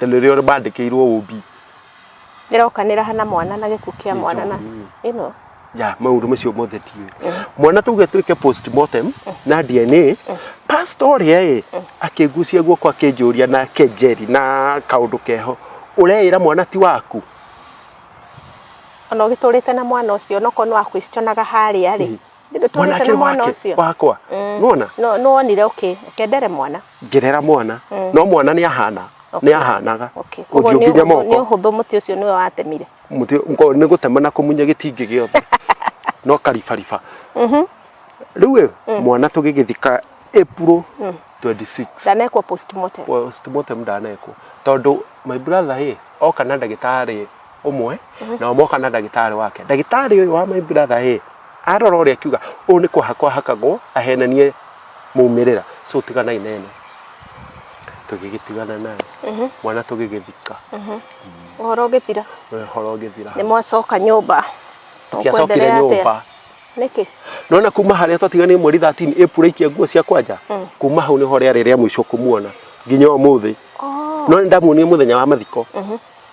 Nĩ rĩo rĩbandĩkĩirwo ũũmbi. Ĩrokanĩra hana mwana na gĩkuũ kĩa mwana na ĩno. Ya, maũndũ macio mothe tiũĩ. Mwana tuge twĩke postmortem na DNA, pastor ũrĩa ĩ akĩngucia guoko akĩnjũria na kenjeri na kaũndũ keho ũreĩra mwana ti waku Ona ũgĩtũrĩte na mwana ũcio onokorwo nĩ wa questionaga harĩa rĩ. Ndĩndĩ tũrĩte mwanake na mwana wake ũcio wakwa Mm. nona no no wonire okay kendere mwana ngerera mwana Mm. no mwana nĩ ahana Okay. nĩ ahanaga okay koguo ũthiũ nĩ nginya ũhũthũ- nĩ moko ũhũthũ mũtĩ ũcio nĩwe watemire Mũtĩ- ngo- nĩ gũtema na kũmunya gĩtingĩ gĩothe no karibariba Mhm. rĩu ĩ mwana tũgĩgĩthika April 26 ndanekwo postmortem postmortem ndanekwo tondũ my brother ĩ oka na ndagĩtarĩ ũmwe nao moka na ndagĩtarĩ wake ndagĩtarĩ ũyũ wa my brother ĩ arora ũrĩa akiuga ũyũ nĩ kũhakwo ahakagwo ahenanie maumĩrĩra so tiganai na ĩno tũgĩgĩtigana nayo Mhm. mwana tũgĩgĩthika ũhoro ũgĩthira ũhoro ũgĩthira nĩ mwacoka nyũmba tũkĩacokire Ũkwenderea atĩa? nyũmba nĩkĩ nona kuma harĩa twatiganire mweri 13 April ikia nguo cia kwanja Mm. kuma hau nĩho rĩarĩ rĩa mũico kũmuona nginya ũmũthĩ Oh. no nĩ ndamuonire mũthenya wa mathiko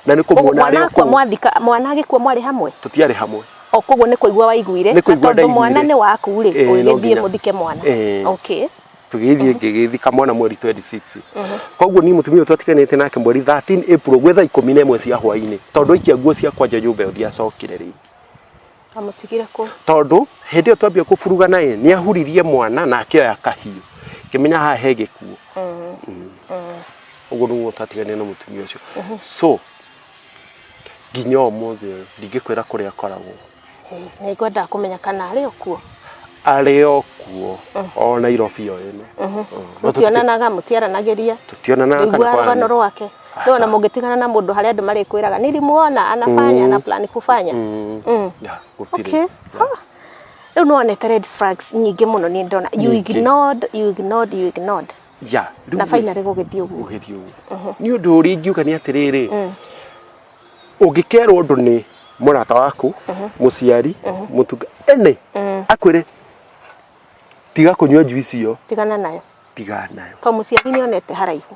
na nä kå Koguo muona arä mwana o akua kå mwathika mwana agĩkua mwarĩ hamwe tå tiarä hamwe o koguo nĩ kũigua waiguire Nĩ na kũigua tondũ mwana ndaiguire. nĩ waku rĩ Eh, no ũgĩthiĩ nginya. mũthike mwana Eh. okay tå gä thiä ngä gä thika mwana mweri 26 koguo niä må tumia å twatiganä te nake mweri 13 April gwä thaa ikå mi na ä mwe cia hwainä tondå aikia nguo ciakwa nja nyå mba ä yo ndiacokire rä Amũtigire kũ? tondũ hĩndĩ ĩyo twambia kũburugana ĩ nĩ ahuririe mwana na akĩoya kahiũ ngĩmenya haha he gĩkuũ Mm. ũguo nĩguo twatiganire na mũtumia ũcio so nginya ũmũthĩ ũyũ ndingĩkwĩra kũrĩa akoragwo Ĩ, Na ngwendaga kũmenya kana arĩ o kuo. arĩ o kuo o nairobi o ĩno Mũtionanaga, mũtiaranagĩria. tũtionanaga kana Ndũiguaga rũgano kwarĩ- rwake. Ndio na mũngĩtigana na mũndũ harĩa andũ marĩkwĩraga nilimuona anafanya ana plan kufanya. Mm. Mm. Yeah, gũtirĩ. Okay. Ah. Rĩu nĩ wonete red flags nyingĩ mũno nĩ ndona. You Nyingĩ. ignored, you ignored, you ignored. Yeah, rĩu Na rĩ- finally gũgĩthiĩ ũguo. ũgĩthiĩ ũguo nĩ ũndũ ũrĩa ingiuga nĩ atĩrĩrĩ ũngĩkerwo ũndũ nĩ mũrata waku mũciari mũtunga ene akwĩre tiga kũnyua njuici ĩyo Tigana nayo. tiga nayo To mũciari nĩ onete haraihu.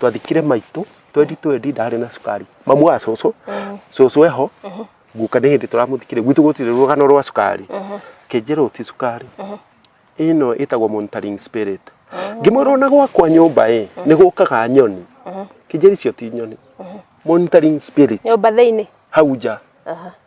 twathikire maitũ twendi twendi ndarĩ na cukari mamu wa cũcũ cũcũ eho guka nĩ hĩndĩ tũramũthikire gwitũ gũtirĩ rũgano rwa cukari kĩnjĩrwo ti cukari ĩno ĩtagwo monitoring spirit ngĩmwĩra ona gwakwa nyũmba ĩ nĩ gũkaga nyoni kĩnjĩrĩ icio ti nyoni monitoring spirit nyũmba thĩinĩ hau nja Aha.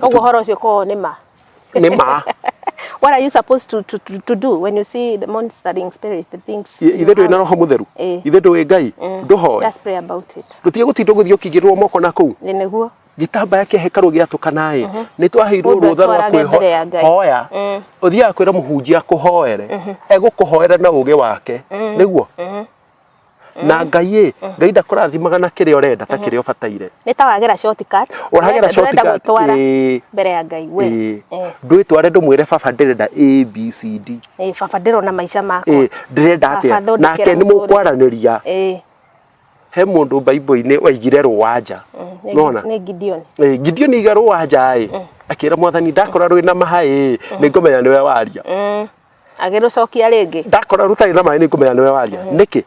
Koguo horo ũcio kwao nĩ ma. Nĩ ma. What are you supposed to, to, to, to do when you see the monitoring spirit, the things? Ithe ndũĩ na roho mũtheru. Eh. Ithe ndũĩ Ngai. Mm. Ndũhoe. Just pray about it. Ndũtige gũtinda ũgĩthiĩ ũkĩigĩrĩrwo moko na kũu. Nĩ nĩguo. Gĩtambaya kĩa hekarũ gĩatũkana ĩ. Mhm. Nĩ twaheirwo rũtha rwa kwĩhoya. Mm. Ũthiaga kwĩra mũhunjia akũhoere. Mhm. Egũkũhoera na ũgĩ wake. Mm. Nĩguo. na ngai ĩ ngai ndakũrathimaga na kĩrĩa ũrenda ta kĩrĩa ũbataire nĩ ta wagera shortcut Ũragera shortcut, gwĩtwara ĩĩ. mbere ya ngai we Ĩĩ. Eh, ndwĩtware ndũmwĩre baba ndĩrenda abcd eh, baba ndĩrona maica makwa Ĩĩ, ndĩrenda Baba, atĩa thondekera nake nĩ mũtũrĩre. mũkwaranĩria Eh, he mũndũ baibũ-inĩ waigire rũwanja mm, nĩ- nona nĩ gideon Eh, gideoni aiga rũwanja ĩ akĩra mwathani ndakora rwĩna mahaĩ nĩ ngũmenya nĩwe waria Mm, agĩrũcokia rĩngĩ ndakora rũtarĩ na maĩ nĩ ngũmenya nĩwe waria nĩkĩ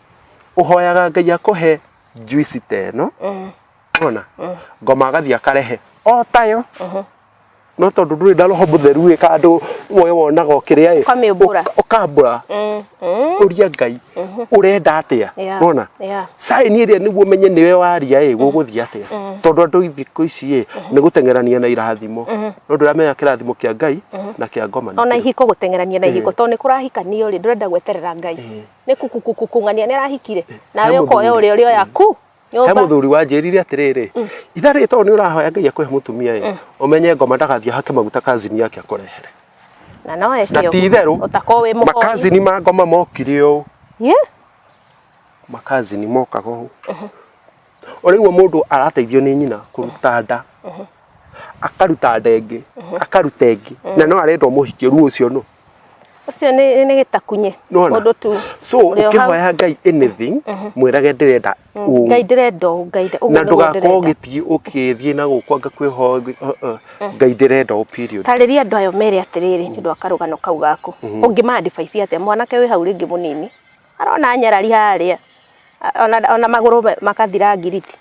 ũhoyaga ngai akũhe njuici ta ĩno ona ngoma agathiĩ akarehe o tayo no tondũ ndũrĩ na roho mũtheru ĩ kandũ we wonaga ũkĩrĩa ĩ Ũkamĩũmbũra. ũka- ũkambũra Mm, mm, ũria ngai ũrenda atĩa Yeah. wona Yeah. saini ĩrĩa nĩguo menye nĩwe waria ĩ gũgũthiĩ atĩa tondũ andũ thikũ ici ĩ nĩ gũteng'erania na irathimo no ndũramenya kĩrathimo kĩa ngai na kĩa ngoma nĩ ona kĩrĩkũ. ihiko gũteng'erania na ihiko tondũ nĩ kũrahikanio rĩ ndũrenda gweterera ngai Eh. nĩ kukukukung'ania nĩ arahikire He nawe mũthuri. ũkoya ũrĩa ũrĩa yaku he nyũmba mũthuri wanjĩrire atĩrĩrĩ itha rĩrĩ tondũ nĩ ũrahoya ngai akũhe mũtumia ĩ ũmenye ngoma ndagathiĩ hake maguta kazini yake akũrehere na no na eke ti itherũ ũguo ũtakorwo wĩ mũhoi makazini ma ngoma mokire ũũ Ye? makazini mokaga ũũ ũrĩguo mũndũ arateithio nĩ nyina kũruta nda akaruta nda ĩngĩ akaruta ĩngĩ na no arendwo mũhikie ruo ũcio no ũcio nĩ nĩ gĩtakunye Nĩwona? ũndũ tu so ũrĩ o hau. ũkĩhoya ngai anything mwĩrage ndĩrenda ũũ ngai ndĩrenda ũũ, ngai ndĩ- ũguo na nĩguo ndũgakorwo ndĩrenda. ũgĩthiĩ ũkĩthiĩ na gũkwa ngakwĩhoya ngĩ- uh, uh, ngai ndĩrenda ũũ period tarĩria andũ ayo mere atĩrĩrĩ nĩ ũndũ wa karũgano kau gaku ũngĩmaandibaici atĩa mwanake wĩ hau rĩngĩ mũnini Arona nyarari harĩa ona, ona magũrũ makathira ngiriti.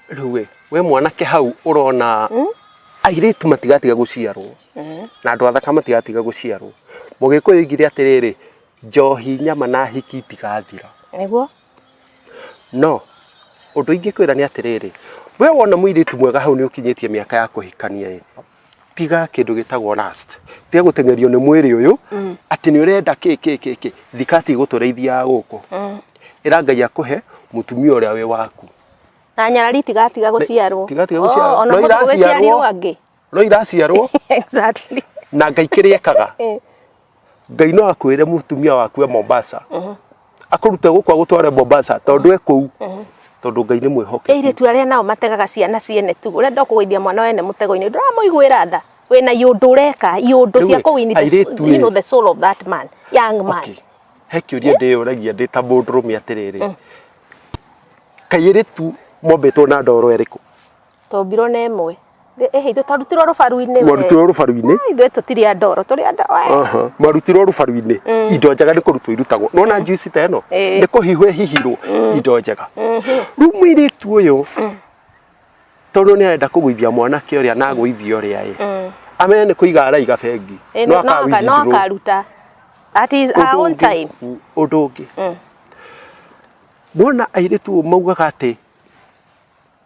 Rĩu we, we mwanake hau ũrona mm? airĩtu matigatiga gũciarwo mm. na andũ athaka matigatiga gũciarwo. Mũgĩkũyũ oigire atĩrĩrĩ, njohi nyama na hiki itigathira. Nĩguo. No, ũndũ ingĩkwĩra nĩ atĩrĩrĩ, we wona mũirĩtu mwega hau nĩ ũkinyĩtie mĩaka ya kũhikania ĩ, tiga kindu gitagwo last tiga gutengerio ni mwiri uyu mm. ati ni urenda ki ki ki ki thikati gutureithia guku mm. ira ngai akuhe mutumia uria wi waku na nyarari tiga tiga guciarwo tiga tiga guciarwo oh, no iraciarwo angi no iraciarwo exactly na ngai kiri ekaga eh. ngai no akwĩre mũtumia waku e mombasa akũrute gũkũ agũtware mombasa tondũ e kũu tondũ ngai nĩ mwĩhoke airĩtu arĩa nao mategaga ciana ciene tu ũrenda kũgũithia mwana wene mũtego-inĩ ndũramũiguĩra tha wĩna iũndũ ũreka iũndũ Rĩu cia ĩ, kũwini the, airĩtu ĩ. you know, the soul of that man young man Okay. he kĩũria ndĩyũragia ndĩ ta mũndũrũme atĩrĩrĩ kairĩtu mombĩtwo na ndoro ĩrĩkũ Twombirwo na ĩmwe. Thĩ ĩhĩ ithuĩ twarutirwo rũbaru-inĩ we. mwarutirwo rũbaru-inĩ Ai, Ithuĩ tũtirĩ a ndoro, tũrĩ a ndoro. eh. Aha, mwarutirwo rũbaru-inĩ indo njega nĩ kũrutwo irutagwo nona njuici ta ĩno Ĩĩ. nĩ kũhihwo ĩhihirwo indo njega rĩu mũirĩtu ũyũ tondũ nĩ arenda kũgũithia mwanake ũrĩa na agũithia ũrĩa ĩ Mm. amenya nĩ kũiga araiga bengi Ĩ, no no aka- no akawithindũrwo. akaruta. At his- her Ũndũ own ũngĩ- time. Mm, ũndũ ũngĩ Mm. nona airĩtu ũũ maugaga atĩ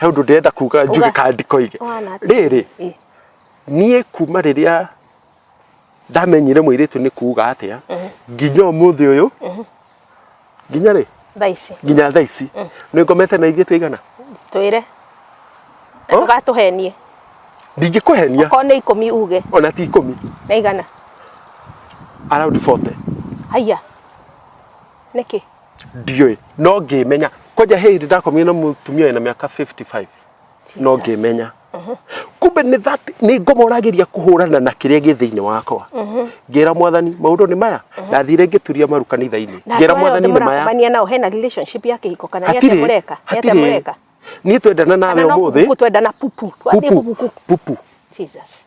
he ũndũ ndĩrenda kuga njuge Uga. kana ndikoige Ũhana atĩa? rĩrĩ Ĩ. niĩ kuma rĩrĩa ndamenyire mũirĩtu nĩ kuga atĩa nginya ũmũthĩ ũyũ nginya rĩ thaa ici nginya thaa ici nĩ ngomete na ithiĩ tũigana twĩre Oh. ndũgatũhenie ndingĩkũhenia okorwo nĩ ikũmi uge ona ti ikũmi na igana around 40 haiya nĩkĩ ndiũĩ no ngĩmenya kwanja he hĩndĩ ndakomire na mũtumia wĩna mĩaka 55 no ngĩmenya kumbe nĩ that nĩ ngomoragĩria kũhũrana na kĩrĩa gĩ thĩinĩ wakwa ngĩra mwathani maũndũ nĩ maya ndathire ngĩturia maru kanitha-inĩ na ngĩra andũ aya mwathani othe nĩ maya mũrakomania nao hena relationship ya kĩhiko kana nĩ atĩa hatirĩ mũreka nĩ atĩa hatirĩ mũreka niĩ twendana nawe kana no ũmũthĩ kuku twendana pupu Twambie pupu kuku pupu Jesus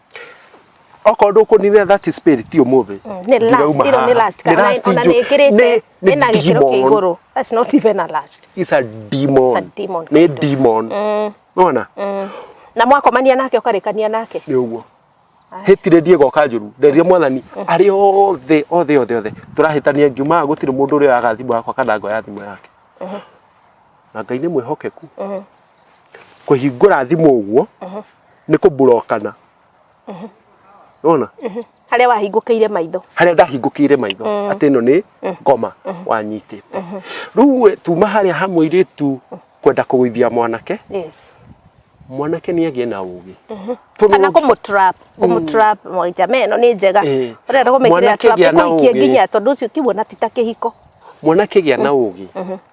okorwo ndũkũninĩra that is spirit ti ũmũthĩ Mm, nĩ last, ndirauma ĩno nĩ haha. last, Nĩ kana last ona njũ- nĩĩkĩrĩte, nĩ- nĩ ĩna gĩkĩro kĩa demon. igũrũ. That's not even a last. It's a demon. It's a demon nĩ kĩndũ. demon nona Mm. na mwakomania nake ũkarĩkania nake nĩ ũguo hĩtire ndiego kanjuru nderia mwathani arĩ othe othe othe othe tũrahĩtania ngiumaga gũtirĩ mũndũ ũrĩa waga thimũ yakwa kana ngoya thimũ yake na ngai nĩ mwĩhokeku kũhingũra thimũ ũguo nĩ kũmburokana nona harĩa wahingũkĩire maitho harĩa ndahingũkĩire maitho atĩ ĩno nĩ ngoma wanyitĩte rĩu we, tuma harĩa ha mũirĩtu kwenda kũgũithia mwanake yes mwanake nĩ agĩe na ũgĩ Tondũ kana kũmũtrap kũmũtrap moja me no nĩ njega Eh. ũrenda kũmĩkĩrĩra Mwanake trap gĩa na ĩkũikie ũgĩ. nginya tondũ ũcio ũkiuona ti ta kĩhiko mwanake gĩa na ũgĩ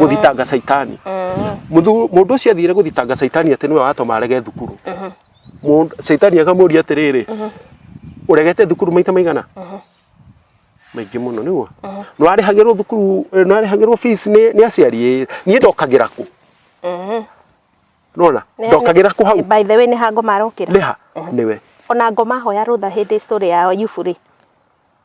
gũthitanga caitani Mũthu- mũndũ ũcio athire gũthitanga caitani atĩ nĩwe watoma arege thukuru Mũndũ- caitani akamũria atĩrĩrĩ ũregete thukuru maita maigana maingĩ mũno nĩguo nwarĩhagĩrwo thukuru eh, nwarĩhagĩrwo fees nĩ nĩ aciari ĩ, niĩ ndokagĩra kũ nona Nĩ- ndokagĩra kũ hau by the way nĩ ha ngoma arokĩra nĩha nĩwe ona ngoma hoya rũtha hĩndĩ story ya yuburi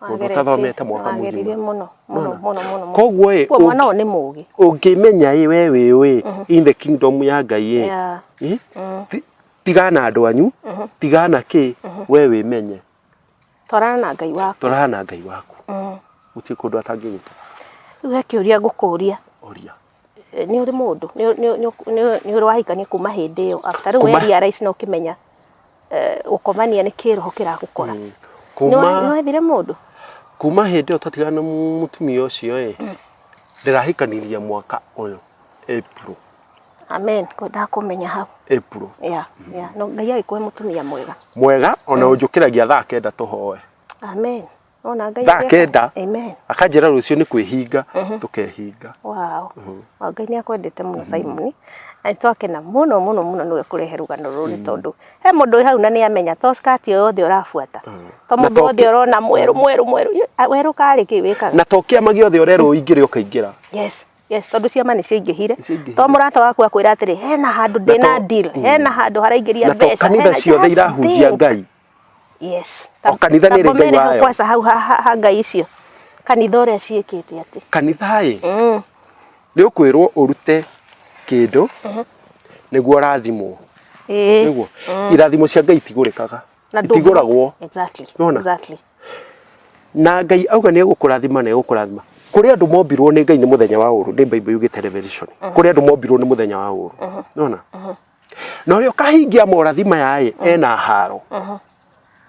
Mũndũ ũtathomete mwaka mũgima. Wagĩrire mũno mũno Nona. mũno mũno. mũno. Koguo ĩ, Kuo mwana ũyũ nĩ mũũgĩ. ũngĩmenya ĩ we wĩ ũĩ in the kingdom ya ngai ĩ Yeah. ĩ, ti- tigana na andũ anyu tigana na kĩ we wĩmenye Twarana na Ngai waku. twarana na ngai waku Mm. gũtirĩ kũndũ atangĩgũtwara Rĩu he kĩũria ngũkũria. oria nĩ ũrĩ mũndũ nĩ- nĩ- nĩ- nĩ- nĩ ũrĩ wahikania kuma hĩndĩ ĩyo after rĩu Kuma- weria raici no ũkĩmenya eh, gũkomania nĩ kĩroho kĩragũkora Nĩ wa- nĩ kuma wethire mũndũ kuma hĩndĩ ĩyo twatigana na mu- mũtumia ũcio ĩ ndĩrahikanirie mwaka ũyũ April amen kwendaga kũmenya hau April ya ya no ngai agĩkũhe mũtumia mwega mwega ona ũnjũkĩragia thaa kenda tũhoe amen Ona Ngai thaa nĩ- kenda Amen. akanjĩra rũciũ nĩ kwĩhinga tũkehinga Wow. Wa Ngai nĩ akwendete mũno Simon. Na nĩ twakena mũno mũno mũno nĩ kũrehe rũgano rũrũ nĩ tondũ he mũndũ wĩ hau na nĩ amenya to skati ũyũ wothe ũrabuata. To Na mũndũ to wothe ki- ũrona mwerũ mwerũ mwerũ. Ĩ, a- Werũ karĩ kĩ wĩkaga? na to kĩama gĩothe ũrerwo ingĩrĩ ũkaingĩra Yes. Yes, tondũ ciama nĩ ciaingĩhire. Nĩciaingĩhire. To mũrata waku akwĩra atĩrĩ hena handũ ndĩna to- deal, hena handũ haraingĩria na to mbeca. kanitha hena ciothe just irahunjia thing." ngai yes O kanitha nĩ ĩrĩ ngai wayo. kwaca hau ha- ha ha ngai icio kanitha ũrĩa ciĩkĩte atĩ kanitha-ĩ Mm. nĩ ũkwĩrwo ũrute kĩndũ nĩguo ũrathimwo Ĩĩ. nĩguo irathimo cia ngai itigũrĩkaga Na ndũngĩ- itigũragwo Exactly. Nĩwona? Exactly. na ngai auga nĩ egũkũrathima na egũkũrathima kũrĩ andũ mombirwo nĩ ngai nĩ mũthenya wa ũũrũ nĩ bible yugĩte revelation kũrĩ andũ mombirwo nĩ mũthenya wa ũũrũ nona na ũrĩa ũkahingia morathi maya ĩ mm. ena haro mm-hmm.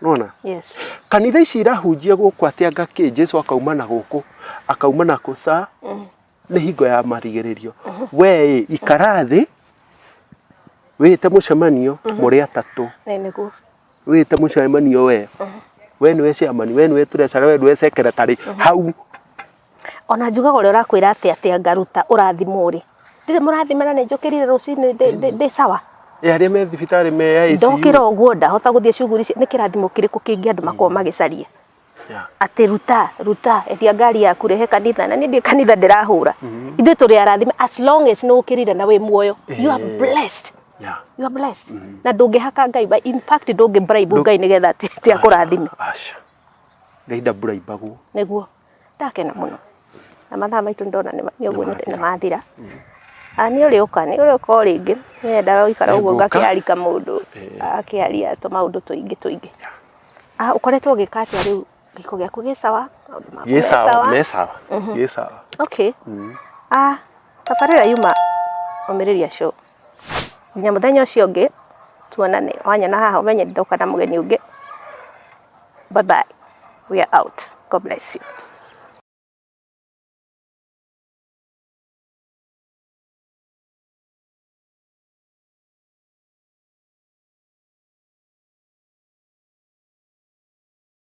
nona yes. kanitha ici irahunjia gũkũ atĩa ngakĩ jesu akauma na gũkũ akauma na kũca mm. nĩ hingo ya marigĩrĩrio mm-hmm. wee ĩ ikara thĩ wĩte mũcemanio mm-hmm. mũrĩ atatũ wĩte mũcemanio wee we nä wecamani we nä weturecare we nä wecekere tarä hau ona njugaga ũrĩa ũrakwĩra atĩ atĩ ngaruta ũrathimwo rĩ ndirĩ mũrathima na nĩ njũkĩrire rũcinĩ ndĩ- ndĩ- ndĩ sawa Eh, arĩa me thibitarĩ me ya ICU. ndokĩra ũguo ndahota gũthiĩ cuguri ici nĩ kĩrathimo kĩrĩkũ kĩngĩ andũ makorwo magĩcaria Yeah. atĩ ruta ruta endia ngari yaku rehe kanitha na niĩ ndĩ kanitha ndĩrahũra ithuĩ tũrĩ arathime as long as nĩ ũkĩrire na wĩ muoyo you are Eh. blessed Yeah. you are blessed na ndũngĩhaka ngai ba- in fact ndũngĩ bribe Ndũ- ngai nĩgetha atĩ atĩ akũrathime Aca. Ngai ndamburaibagwo. nĩguo ndakena mũno na mathaa maitũ ndona nĩ ũguo nĩ mathira ah, nĩ ũrĩũka nĩ ũrĩũka o rĩngĩ nĩ endaga gũikara ũguo ngakĩarika mũndũ eh. akĩaria tũmaũndũ tũingĩ tũingĩ ah, ũkoretwo ũgĩka atĩa rĩu gĩko gĩaku gĩ sawa gĩ sawa me sawa mhm. gĩ sawa okay mm. ah tabarĩra yuma omĩrĩria show nginya mũthenya ũcio ũngĩ tuonane, wanyona haha ũmenye ndoka na mũgeni ũngĩ. Bye bye, we are out, God bless you.